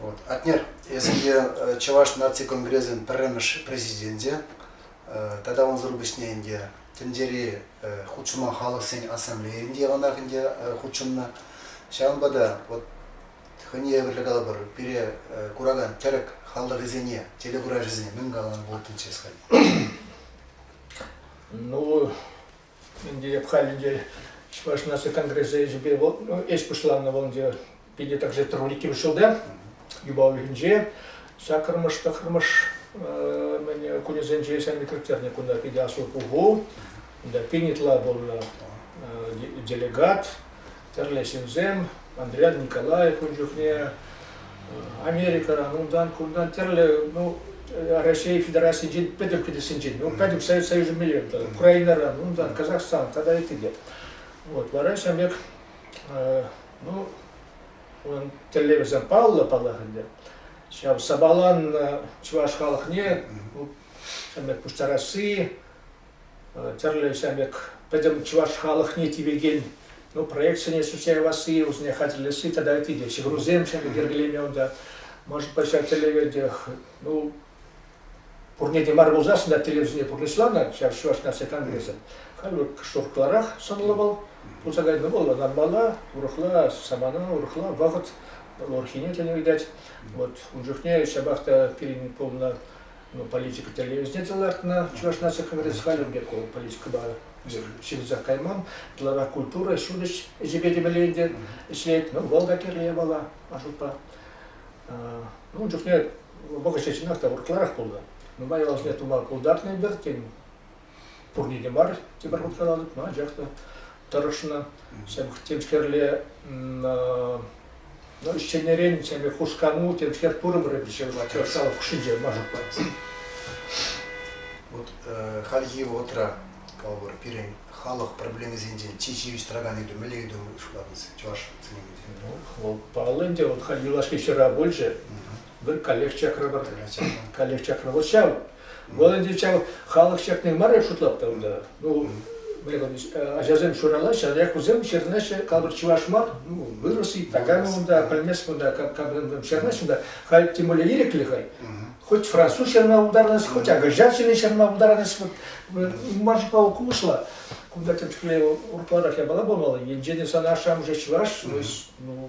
Вот. Атнер, если э, Чӑваш наци конгресӗн пӗрремӗш президенчӗ, э, тата унсӑр пуҫне ӗнтӗ тӗнчери э, хутшӑма халӑхсен ассамблейин те ӑнах ӗнтӗ хутшӑннӑ. Ҫавӑнпа та вот хӑйне евӗрлӗ калӑпӑр, пире куракан тӗрӗк халӑхӗсене, телекуравҫӑсене мӗн каланӑ пултӑнчӗ сказать? Ну, Эп халь ӗнтӗ Чӑваш наци конгресс ӗҫӗпе ӗҫ пуҫланнӑ вӑл ӗнтӗ питӗ также трурики вӗҫҫултӗ. Юпа уйӑхӗнче саккӑрмӑш, тӑххӑрмӑш кунӗсенче санэкректернӗ кунта питӗ аслӑ пуху. Унта пин ытла пулнӑ делегат тӗрлӗ ҫынсем, Андриян Николаев ун чухне, Америкӑран, унтан, кунтан тӗрлӗ, ну, Раҫҫей Федерацийӗнчен пӗтӗм кӗтессинчен, ну, пӗтӗм Совет Союзӗн меллерен, Украинӑран, унтан Казахстан тата ытти те. Вот, вара ҫав пек, ну, он тӗллевӗсем паллӑ паллах ӗнтӗ. Ҫав сапалан чӑваш халӑхне ну, пуҫтарасси, тӗрлӗ ҫав пек пӗтӗм чӑваш халӑхне тивекен ну, проектсене сӳтсе явасси, вӗсене хатӗрлесси тата ытти те ҫыхӑнусем ҫав пек йӗркелеме унта. Может быть, ҫав тӗллевентех ну, пурне те мар пулсассӑн та телевизине пурнӑҫланӑ ҫав Чӑваш наци конгресӗ. Халь шуртларах сӑнлӑ вӑл пулса кайнӑ вӑл ӑнанмалла, урӑхла самана, урӑхла вӑхӑт, вӑл урӑххине тенӗ видать. Вот ун чухне ҫапах та пирӗн пулнӑ политика тӗлне ӳстерсе лартнӑ Чӑваш наци конгресс халӗ пек вӑл политикӑпа ҫырӑнса кайман. Ытларах культура, ҫутӗҫ ӗҫӗпе темелле ӗнтӗ ӗҫлет. Ну, вӑл та кирлӗ япала, Ашукпа. Ну, ун чухне вӑхӑт ҫеҫ чӑнах та урлӑрах пулнӑ. Нумай ялсене тума пултарнӑ эпир, тен, пурне те мар тепӗр хутра тытма, анчах та тӑрӑшнӑ. Темскерле ну, ӗҫченӗрен семе хускану темскер пурӑмӑрӗ пӗҫерма тӑршалӑх хушшинче машӑпа. Вот э, хальхи вӑхӑтра калӑпӑр пирӗн халӑх проблемисенчен чи ҫивӗч тӑракан ыйту мӗнле ыйту шутлатӑн чӑваш сӗнӗвӗнче? Ну, вӑл паллӑ ӗнтӗ, вот юлашки ҫыра пулчӗ. Вӑл каллех чакравата кайса. Каллех чакрава ҫав. Вӑл ӗнтӗ ҫав халӑх чакни мар шутлап унта. Ну, ачасем ҫуралаҫҫӗ, анчах вӗсем ҫырнаҫҫӗ, калӑпӑр, чӑваш мар, ну, вырос и такая унта, пӗлмест кунта, кабрем ҫырнаҫҫӗ унта, халь тем более ирӗклӗ хай. Хоть француз ҫырма пултарнӑс, хоть англичан ҫырни ҫырма пултарнӑс, вот мар улшла. Кунта тем чухле урплатах япала пулмалла, енчен сан ашшӗ-амӑшӗ чӑваш, ну,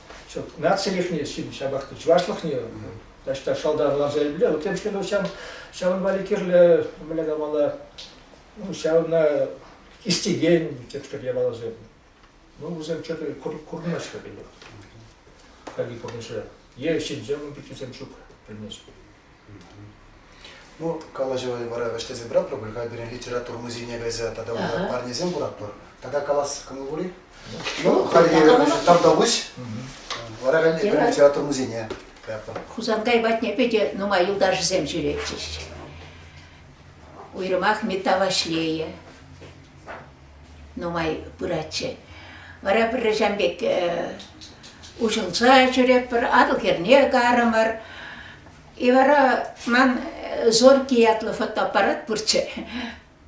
нацилӗхне, ҫапах та чӑвашлӑхне таҫта шалтан ларса илмелле. Вот тем шел, ҫав, ҫавӑн валли кирлӗ мӗнле калмалла, ну, ҫавна истекен тетпӗр япаласем. Ну, вӗсем что-то курмаҫҫӗ пулӗ. Хальхи пурнӑҫра. Е ҫынсем, пикисем ҫук, пӗлмест. Ну, калаҫӑва вара вӗҫлесе пыратпӑр пуль, хай пирӗн литература музейне кайса тата унта парнесем куратпӑр. Тата калас кӑмӑл пур-и? Ну, хальхи тавтапуҫ. Вара хай пирӗн литература музейне каятпӑр. Хусанкай патне питӗ нумай юлташӗсем ҫӳретчӗҫ. Уйрӑмах Мета Ваҫлейӗ, нумай пыратчӗ. Вара пӗр ачам пек уҫӑлса ҫӳретпӗр, Атӑл хӗрне карӑмӑр. И вара ман Зорький ятлӑ фотоаппарат пурччӗ,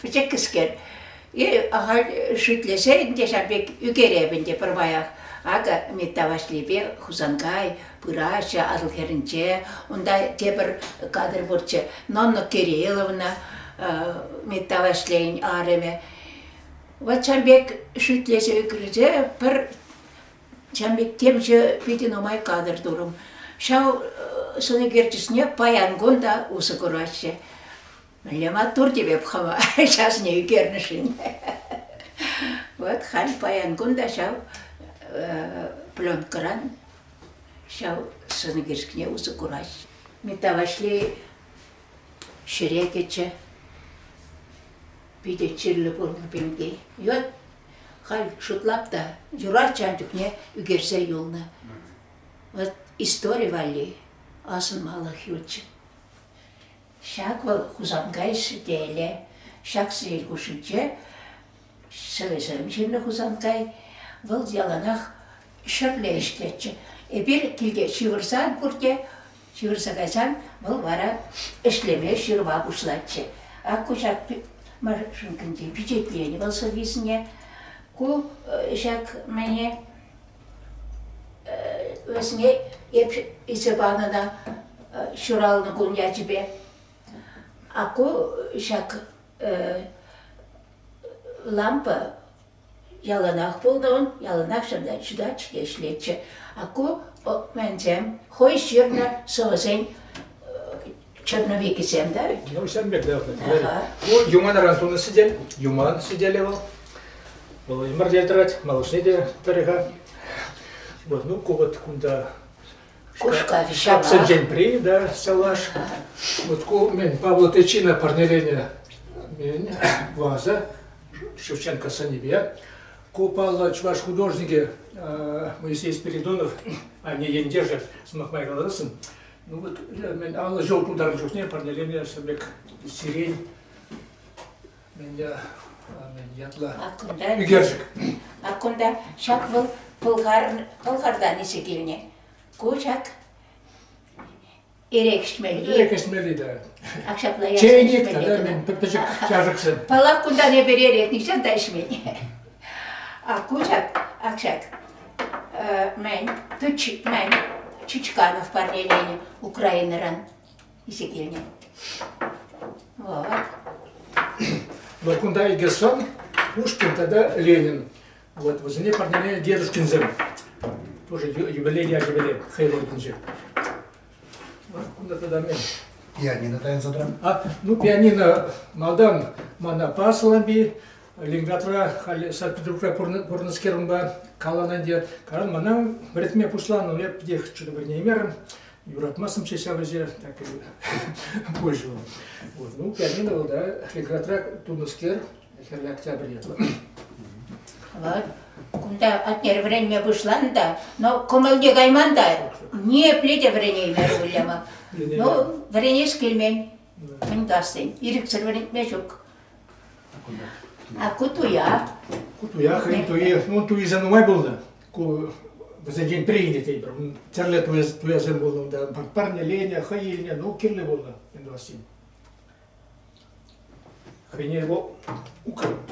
пӗчӗккӗскер. И ахаль шӳтлесе ӗнтӗ ҫав пек ӳкереп ӗнтӗ пӗрваях. Акӑ Митта Ваҫлипе Хусанкай пыраҫҫӗ Атӑл хӗрӗнче. Унта тепӗр кадр пурччӗ. Нонна Кирилловна, Митта Ваҫлейӗн арӑмӗ. Ватчанбек шӳтлесе ӳкрӗте пӗр Чамбек темшӗ питӗ нумай кадр турӑм. Ҫав сӑнӳкерчӗсне паян кун та усӑ кураҫҫӗ. Мӗнле маттур тевеп хӑва ҫасне ӳкернӗшӗн. Вот халь паян кун та ҫав пленкӑран Ҫав сӑнӳкерчӗкне усӑ кураҫҫӗ. Митта Ваҫлей ҫӗре кӗчӗ. Питӗ чирлӗ пулнӑ пемки. Йот халь шутлап та юратчӗ ан чухне ӳкерсе юлнӑ. Вот истори валли асӑнмалӑх ютчӗ. Ҫак вӑл Хусанкай сӗтелӗ. Ҫак сӗтел хушшинче Сӑвӑсем ҫырнӑ Хусанкай. Вӑл яланах ҫӗрле ӗҫлетчӗ. Эпир килте ҫывӑрсан пурте ҫывӑрса кайсан вӑл вара ӗҫлеме ҫырма пуҫлатчӗ. Ак кушак машинкинче пичетленӗ вӑл сӑввисене. Ку ҫак мӗне вӗсене эп илсе панӑ та ҫуралнӑ кун ячӗпе. А ку ҫак лампа яланах пулнӑ, яланах ҫавна ҫутать-ҫке ӗҫлетчӗ. А ку менсем хӑй ҫырнӑ сӑвӑсен черновикӗсем да. Ҫавӑн пек да. Юманран тунӑ сӗтел, юман сӗтелӗ вӑл. Вӑл ӗмӗрте тӑрать, малашне те тӑрӗ-ха. Вот, ну, ку вот кунта Кушкав ҫапла. Сӗнченпри, да, сӑлаш. Вот ку мен Павлотычина парнелене мен ваза Шевченко сынипе. Ку паллӑ чӑваш художникӗ Моисей Спиридонов, они ентешӗ сӑмах май каласын. Ну вот мен аллӑ ҫул тултарнӑ чухне парнелене сӗмек сирень Менде ятла ӳкерчӗк. А кунта ҫак вӑл Пӑлхардан ишӗ килнӗ. Ку ҫак эрех ӗҫмелли. Эрех ӗҫмелли те. Ак ҫапла ясак Чейник тата мен пӗчӗк чашӑксем. Паллах, кунтан эпир эрех нихҫан та ӗҫмен. А ку ҫак, ак ҫак, мен, Чичканов парнеленӗ Украинӑран. исе килнӗ. Вот. Но кунта Егерсон, Пушкин тата Ленин. Вот вӗсене парнеленӗ дедушкинсем. Тоже юбилей ячӗпеле хайлайтинче. Кунта тата мен. Пианино тайын садрам. А, ну пианино малдан мана пасламби Лингатра халь Санкт-Петербурга пурнӑскерунба калананде каран мана вӗретме пуҫланӑ эп дех чудо не имером юратмастӑм ҫеҫ ҫав ӗҫе, так и пользу. Вот. Ну, пианино вӑл да регратра тунӑскер хӗрлӗ октябрь ятлӑ. Вӑл кунта атнер вӗренме пуҫланӑ та, но кӑмӑлне кайман та, ниепле те вӗренеймерӗ Уляма. Ну, вӗренес килмен. Пынкассен. Ирӗксӗр вӗрентме ҫук. А кутуя? Кутуя хӑйӗн туйи, ну туйса нумай пулнӑ. ку вӗсенчен приняли тетпӗр тӗрлӗ туясем пулнӑ унта парнеленӗ хӑй илнӗ ну кирлӗ пулнӑ Илья Васильевич хӑйне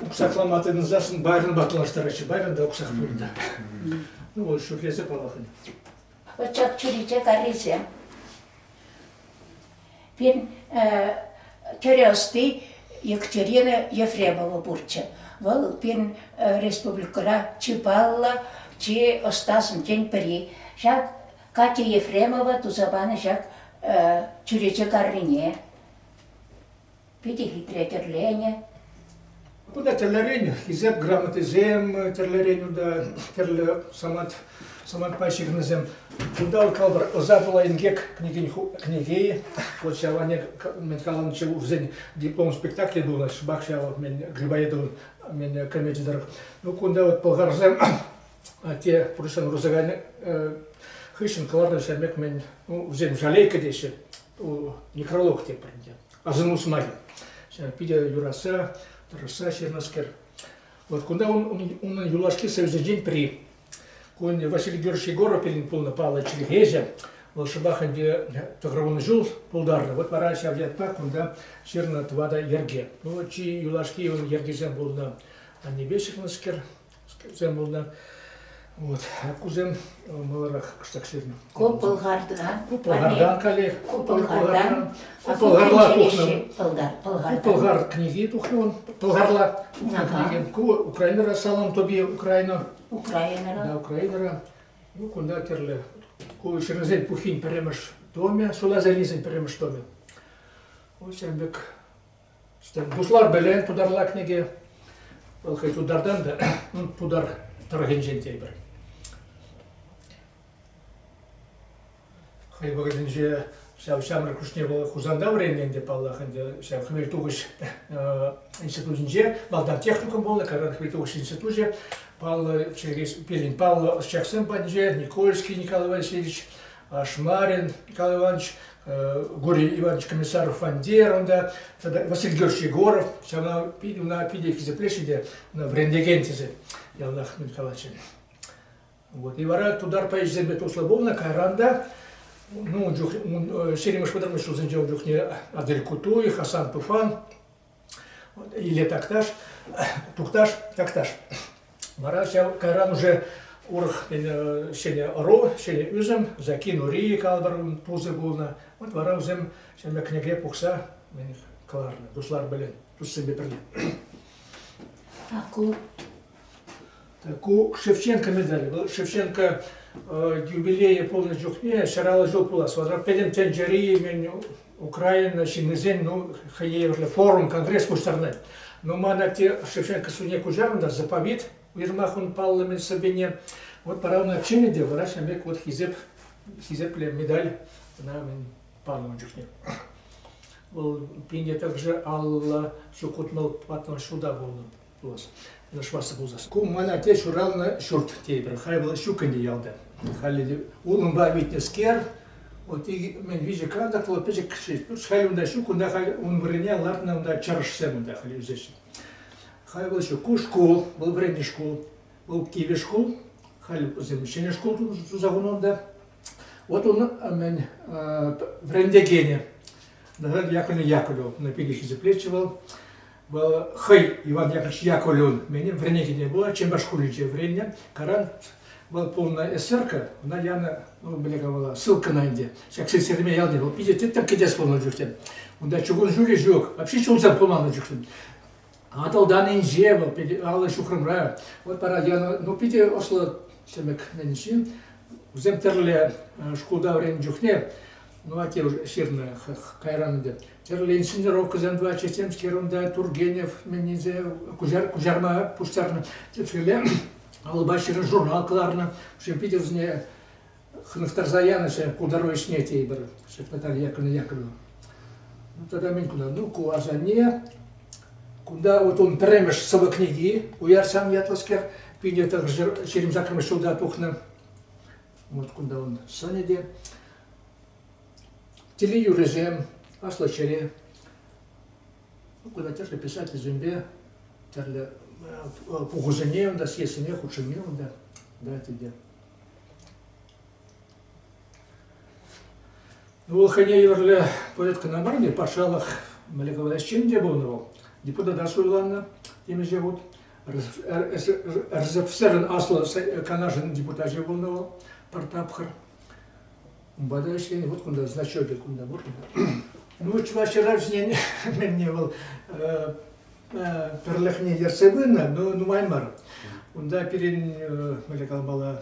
уксаклама тытӑнсассӑн байронпа клаштараҫҫӗ байрон та уксах пур та ну вӑл шӳрлесе паллах ҫак чӳрече каррисем Пин тӗрӗ ӑсти Екатерина Ефремова пурччӗ. Вӑл пин республикӑра чи паллӑ, чи ӑстасенчен пӗри. Ҫак Катя Ефремова туса панӑ ҫак чӳрече каррине питӗ хитре тӗрленӗ. Унта тӗрлӗрен хисеп грамотисем, тӗрлӗрен унта тӗрлӗ самант, самантпа ҫыхӑнусем. Кунта калпӑр ӑса пула инкек кӗнекен кӗнеки, вот ҫаване мен каланчӗ урсен диплом спектакле было, шбак ҫав мен Грибаедовын мен кӗмечӗ тӑрӑх. Ну кунта вот пӑлхарсем те пурсен русакайны хыҫҫӑн кӑларнӑ ҫамек мен ну, усем жалейка теҫҫӗ, некролог тепринче. Асӑнус май питӗ юратса, тӑрӑшса ҫырнӑскер. Вот кунта унӑн юлашки сӑвӑсенчен пӗри. Кун Василий Георгиевич Егоропин пулнӑ паллӑ чӗлхеҫӗ. Вӑл шӑпах ӗнтӗ тӑхӑрвунӑ ҫул пултарнӑ. Вот вара ҫав ятпа кунта ҫырнӑ тӑватӑ йӗрке. Ну, чи юлашки йӑркисем пулнӑ. Аннепе ҫыхнӑскер, Кусем пулнӑ. Вот. Кусем маларах кӑштах ҫырнӑ. Ку Пӑлхардан. Ку Пӑлхардан каллех. Ку Пӑлхардан. Пӑлхарла тухнӑ. Пӑлхар. Пӑлхар книги тухнӑ. Пӑлхарла книги. Ку Украинӑра салам тобі Украина. Украинӑра. Да, Украинӑра. Ну, кунта тӗрлӗ. Ку ҫырнисен пухин пӗрремӗш томӗ, шула залисен пӗрремӗш томӗ. Ку ҫем пек Пуҫлар белен тутар лакнике. Вӑл хӑй тутартан та тутар тӑрӑхӗнчен тейпӗр. Хӑй вӑхӑтӗнче ҫав ҫамрӑк хушне вӑл Хусанта вӗреннӗ ӗнтӗ, паллах, ӗнтӗ ҫав хӗвелтухӑҫ институтӗнче валтан техникум пулнӑ, каран хӗвелтухӑҫ институчӗ, паллӑ чӗркес пирӗн паллӑ ӑсчахсем патӗнче Никольский Николай Васильевич, Ашмарин Николай Иванович, Гурин Иванович Комиссаров Фандер унта, тата Василий Георгиевич Егоров, ҫавна ӑна питӗ хисеплеҫҫӗ те, ӑна вӗрентекен тесе яланах мелкалаҫҫӗ. Вот. И вара тутар поэчӗсемпе туслӑ пулнӑ, кайран та ну, ун чух ҫирӗмӗш пӑтӑрмӑш ҫулсенче ун чухне Адель Кутуй, Хасан Туфан Иле Такташ, Тукташ, Такташ. Вара ҫав кайран уже урӑх ҫӗнӗ ӑру, ҫӗнӗ ӳсӗм, Закин Ури калӑпӑр пусӑ пулнӑ. Вот вара вӗсем ҫӗнӗ кӗнеке пухса кӑларнӑ дуслар пӗлен, туссемпе пӗрле. Ку Ку Шевченко медаль. Вӑл Шевченко юбилейӗ пулнӑ чухне ҫӑраллӑ ҫул пулас. Вара пӗтӗм тӗнчери мӗн Украина ҫыннисен ну, хӑйне евӗрлӗ форум, конгресс пуҫтарнӑ. Но ман атте Шевченко суне куҫарнӑ заповет, уйрӑмах ун парламент сӑввине. Вот пора ӑна чине те, вара ҫын пек вот хисеп, хисепле медаль ӑна мӗн панӑ ун чухне. Вӑл пинте также алла ҫукутмал патнӑн шуда пулнӑ. пулас, ышлаҫса пулсас. Ку мана те ҫуралнӑ ҫурт тейпӗр. Халь вӑл ҫук ӗнтӗ ялта. Халӗ те улӑмпа витнӗскер, вот мӗн виҫӗ кантак вӑл пӗчӗкши. Халь унта ҫук, унта халь ун вырӑнне лартнӑ унта чӑрӑшсем унта халь ӳсеҫҫӗ. Халь вӑл ҫук. Ку шкул, вӑл вӗрентнӗ шкул, вӑл кивӗ шкул. Халь вӗсем ҫӗнӗ шкул туса хунӑ унта. Вот он мӗн вӗрентекенӗ. Наган Яковлевна Яковлева, на пике хисеплечивал. хӑй Иван Яковлевӑн мені вӗренекене пула Чемпаш шкулӗнче вӗреннӗ. Каран вӑл пулнӑ СРК, ӑна янӑ, ну, бляха вала, ссылкӑна ӗнтӗ. Ҫак Серемей ялне вӑл питӗ тӗттӗм кӗтес пулнӑ чухне. Унта чукун ҫулӗ ҫук, вообще ҫулсӑр пулман ун чухне. Атӑлтан инҫе вӑл, аллӑ ҫухрӑмра. Вот пара янӑ, ну, питӗ ӑслӑ чӗмӗк ҫын. Вӗсем тӗрлӗ шкулта вӗреннӗ чухне Ну, Атюш, ҫырнӑ кайран ӗнтӗ. Тӗрлин синировкӑсем тӑватчӗ темскер унта Тургенев мӗннисе куҫар, куҫарма пуҫтарнӑ тетскеле алӑпа ҫирӗн журнал кӑларнӑ. Уже питӗ вӗсене хӑнӑхтарса янӑ ҫe култару ӗҫне тейпӗр Наталья Яковлевна Яковлевна. Ну, тата мӗн кунта? Ну, ку асанне кунта вот он пӗрремӗш сӑвӑ книги уярсан ятлӑскер, пинӗ тӑхӑр ҫирӗм саккӑрмӗш ҫулта тухнӑ. Вот кунта он сӑнӗ те. Телеюрӑсем, аслӑ ҫӗре. Кунта тӗрлӗ писательсемпе тӗрлӗ пухусене унта съездсене хутшӑнни унта, да, тӗлте. Ну, хӑйне евӗрлӗ поэт кӑна мар, патшалӑх мӗлӗковӗҫ чин те пулнӑ вӑл. Депутата суйланнӑ темиҫе хут. РСФСРӑн Аслӑ Канашӗн депутачӗ пулнӑ вӑл пӗр тапхӑр. Унпа та ӗҫленӗ вот кунта зачетик кунта пур. Ну, чӑваш ҫыравҫине мӗнне вӑл пӗрлӗхне ертсе пынӑ, но нумай мар. Унта пирӗн, мӗле калмалла,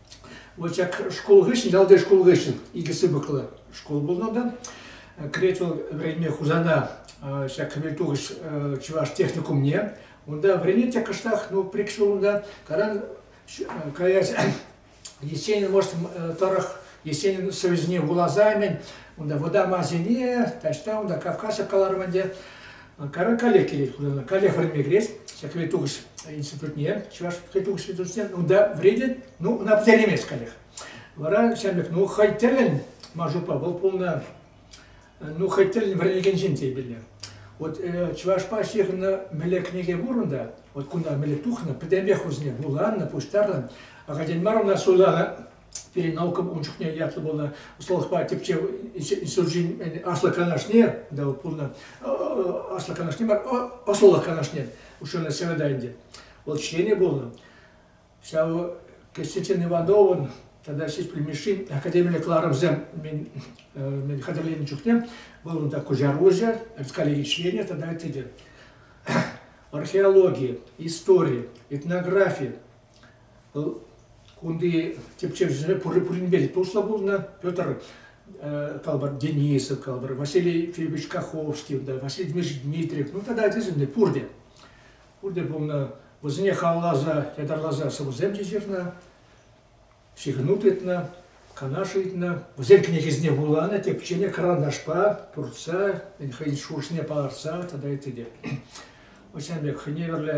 Вот как шкул хыҫҫӑн, ялти шкул хыҫҫӑн икӗ сыпӑклӑ шкул пулнӑ та. Кӗрет вӑл вӗренме Хусана ҫак кӗмӗл-тухӑҫ чӑваш техникумне. Унта вӗренет те кӑштах, ну, прикшӗ унта. Когда каять Есенин, может, тӑрӑх Есенин сӑвӗсене вуласа мӗн, унта вӑтам Азине, таҫта унта Кавказ кӑларман те. Каракале килет хунана. Кале хырне кӗрес. Ҫак кӗве тухӑҫ институтне, чӑваш кӗве тухӑҫ институтне, унта вредит, ну, ӑна пӗтеремес каллех. Вара ҫав пек, ну, хӑй тӗлӗн Мажупа вӑл пулнӑ, ну, хӑй тӗлӗн вӗренекен ҫын тейпелле. Вот чӑвашпа ҫыхӑннӑ мӗле кӗнеке пур унта, вот кунта мӗле тухнӑ, пӗтӗмпех вӗсене вуланнӑ, пуҫтарнӑ. Академир мар уна суйланӑ, пирӗн наукӑн ун чухне ятлӑ пулнӑ ӑсталӑхпа тӗпчев институчӗн аслӑ канашне да пулнӑ аслӑ канашне мар ӑслӑлӑх канашне уҫӑлнӑ сенада ӗнтӗ вӑл членӗ пулнӑ ҫав Константин Ивановӑн тата Сиспель Мишин академиллӗ кӑларӑмсем мен, мен хатӗрленӗ чухне вӑл унта куҫар уҫӑ коллеги членӗ тата ытти те археологи истори этнографи Кунти тӗпчевҫӗсене пуринпе те туслӑ пулнӑ. Петр калӑпӑр, Денисов, калӑпӑр, Василий Филиппович Каховский, Василий Дмитриевич Дмитриев, ну тата ачасем пурте. Пурте пулнӑ. Вӗсене халалласа, ятарласа сӑвӑсем ҫыхӑннӑ, ҫыхӑну тытнӑ, канаш ыйтнӑ. Вӗсен кӗнекесене вуланӑ, тӗпченӗ, карандашпа туртса, хӑйӗн шухӑшне палӑртса тата ытти те. Вӑл ҫавӑн пек хӑйне евӗрлӗ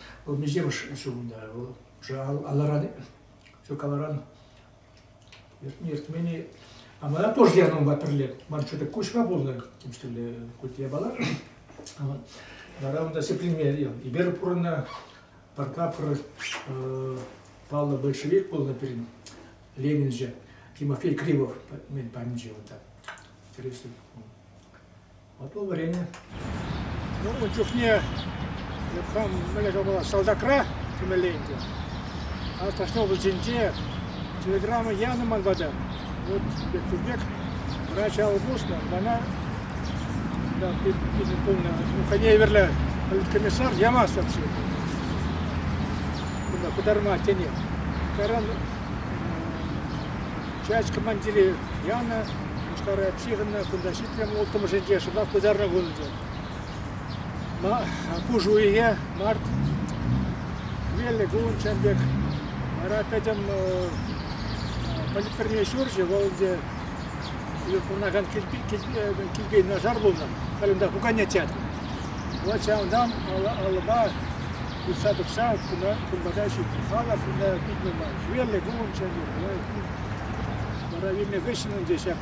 Вӑл миҫемӗш ҫулӑнта вӑл? Уже алӑран, все каларан иртмени. А мы тоже янӑмпа пӗрле ман что-то куҫма пулнӑ, тем что ли, кути япала. Вара унта сепленмел. Ибер пурӑнна парка пыр паллӑ большевик пулнӑ пирӗн Ленинче Тимофей Кривов мен памче вот так. Интересно. Апла вӗренӗ. Ну, ун чухне хам мӗнле ҫапала салтакра кӗмелле ӗнтӗ. А Таштовпольсенче телеграмма янӑ ман пата. Вот пек пек врач алӑ пуснӑ, мана да, питӗ полная уханеверле комиссар ямасть вообще. Кунта пытарма тенех. Таран часть командирі янӑ, Мушкара Психовна кунта Прямо улттӑмӗшӗнче шӑпах пытарнӑ вырӑнче. Пуш уйӑхе март вилнӗ кун пек. Вара пӗтӗм политтӑрне ҫурчӗ, вӑл ӗнтӗ пурӑнакан килпе нашар пулнӑ. Халь унта пукане театр. Вот ҫавӑнтан алӑпа утса тухса кунпата ҫитнӗ халӑх ӑна питне май. Хӗвеллӗ кун ҫемье. Вара вилнӗ хыҫҫӑн ӗнтӗ ҫак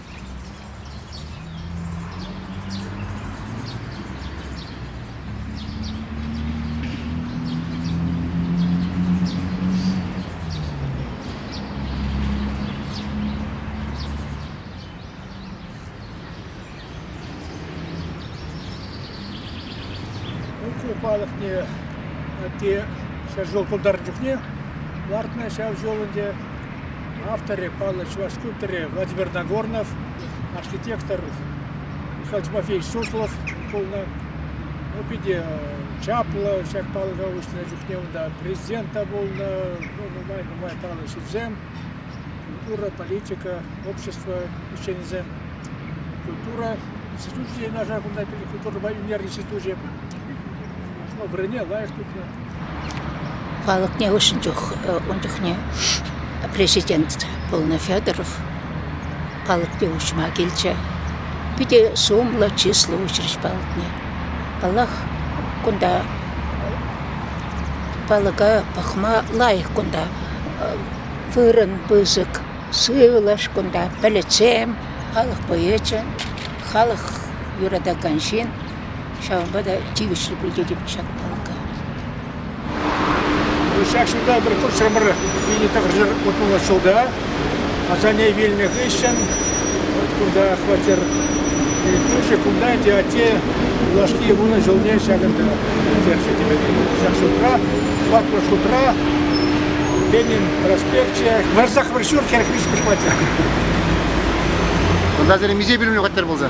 Ытли палӑкне те ҫӗр ҫул тултарнӑ чухне лартнӑ ҫав ҫул ӗнтӗ. Авторӗ паллӑ чӑваш скульпторӗ Владимир Нагорнов, архитектор Михаил Тимофеевич Суслов пулнӑ. Ну, питӗ чаплӑ ҫак палӑка уҫнӑ чухне унта президент та пулнӑ, ну, нумай-нумай паллӑ ҫынсем, культура, политика, общество ӗҫченӗсем, культура институчӗ те нашар кунта пирӗн культурӑпа ӳнер институчӗ. Ну, вырӑнне лайӑх тупнӑ. Палӑкне уҫнӑ чух ун чухне президент пулнӑ Федоров палӑкне уҫма килчӗ. Питӗ сумлӑ, чыслӑ уҫрӗҫ палӑкне. Паллах, кунта палӑка пӑхма лайӑх кунта вырӑн пысӑк, сывлӑш кунта, пӗлӗтсем, халӑх поэчӗ, халӑх юратакан ҫын. Ҫавӑнпа та тивӗҫлӗ пултетӗп ҫак палка. Ҫак ҫулта пӗр хутсӑмӑр вилнӗ тӑхӑрҫӑр утмӑлмӗш ҫулта асанне вилнӗ хыҫҫӑн вот кунта хваттер кӳршӗ кунта ӗнтӗ атте юлашки вунӑ ҫулне ҫакӑнта ӳкерчӗ тӗпеле. Ҫак шутра, ватлӑ шутра Ленин проспекчӗ, Варсах вӑр ҫурт хӗрӗх виҫҫӗмӗш хваттер. Кунта сире миҫе пӳлӗмлӗ хваттер пулса?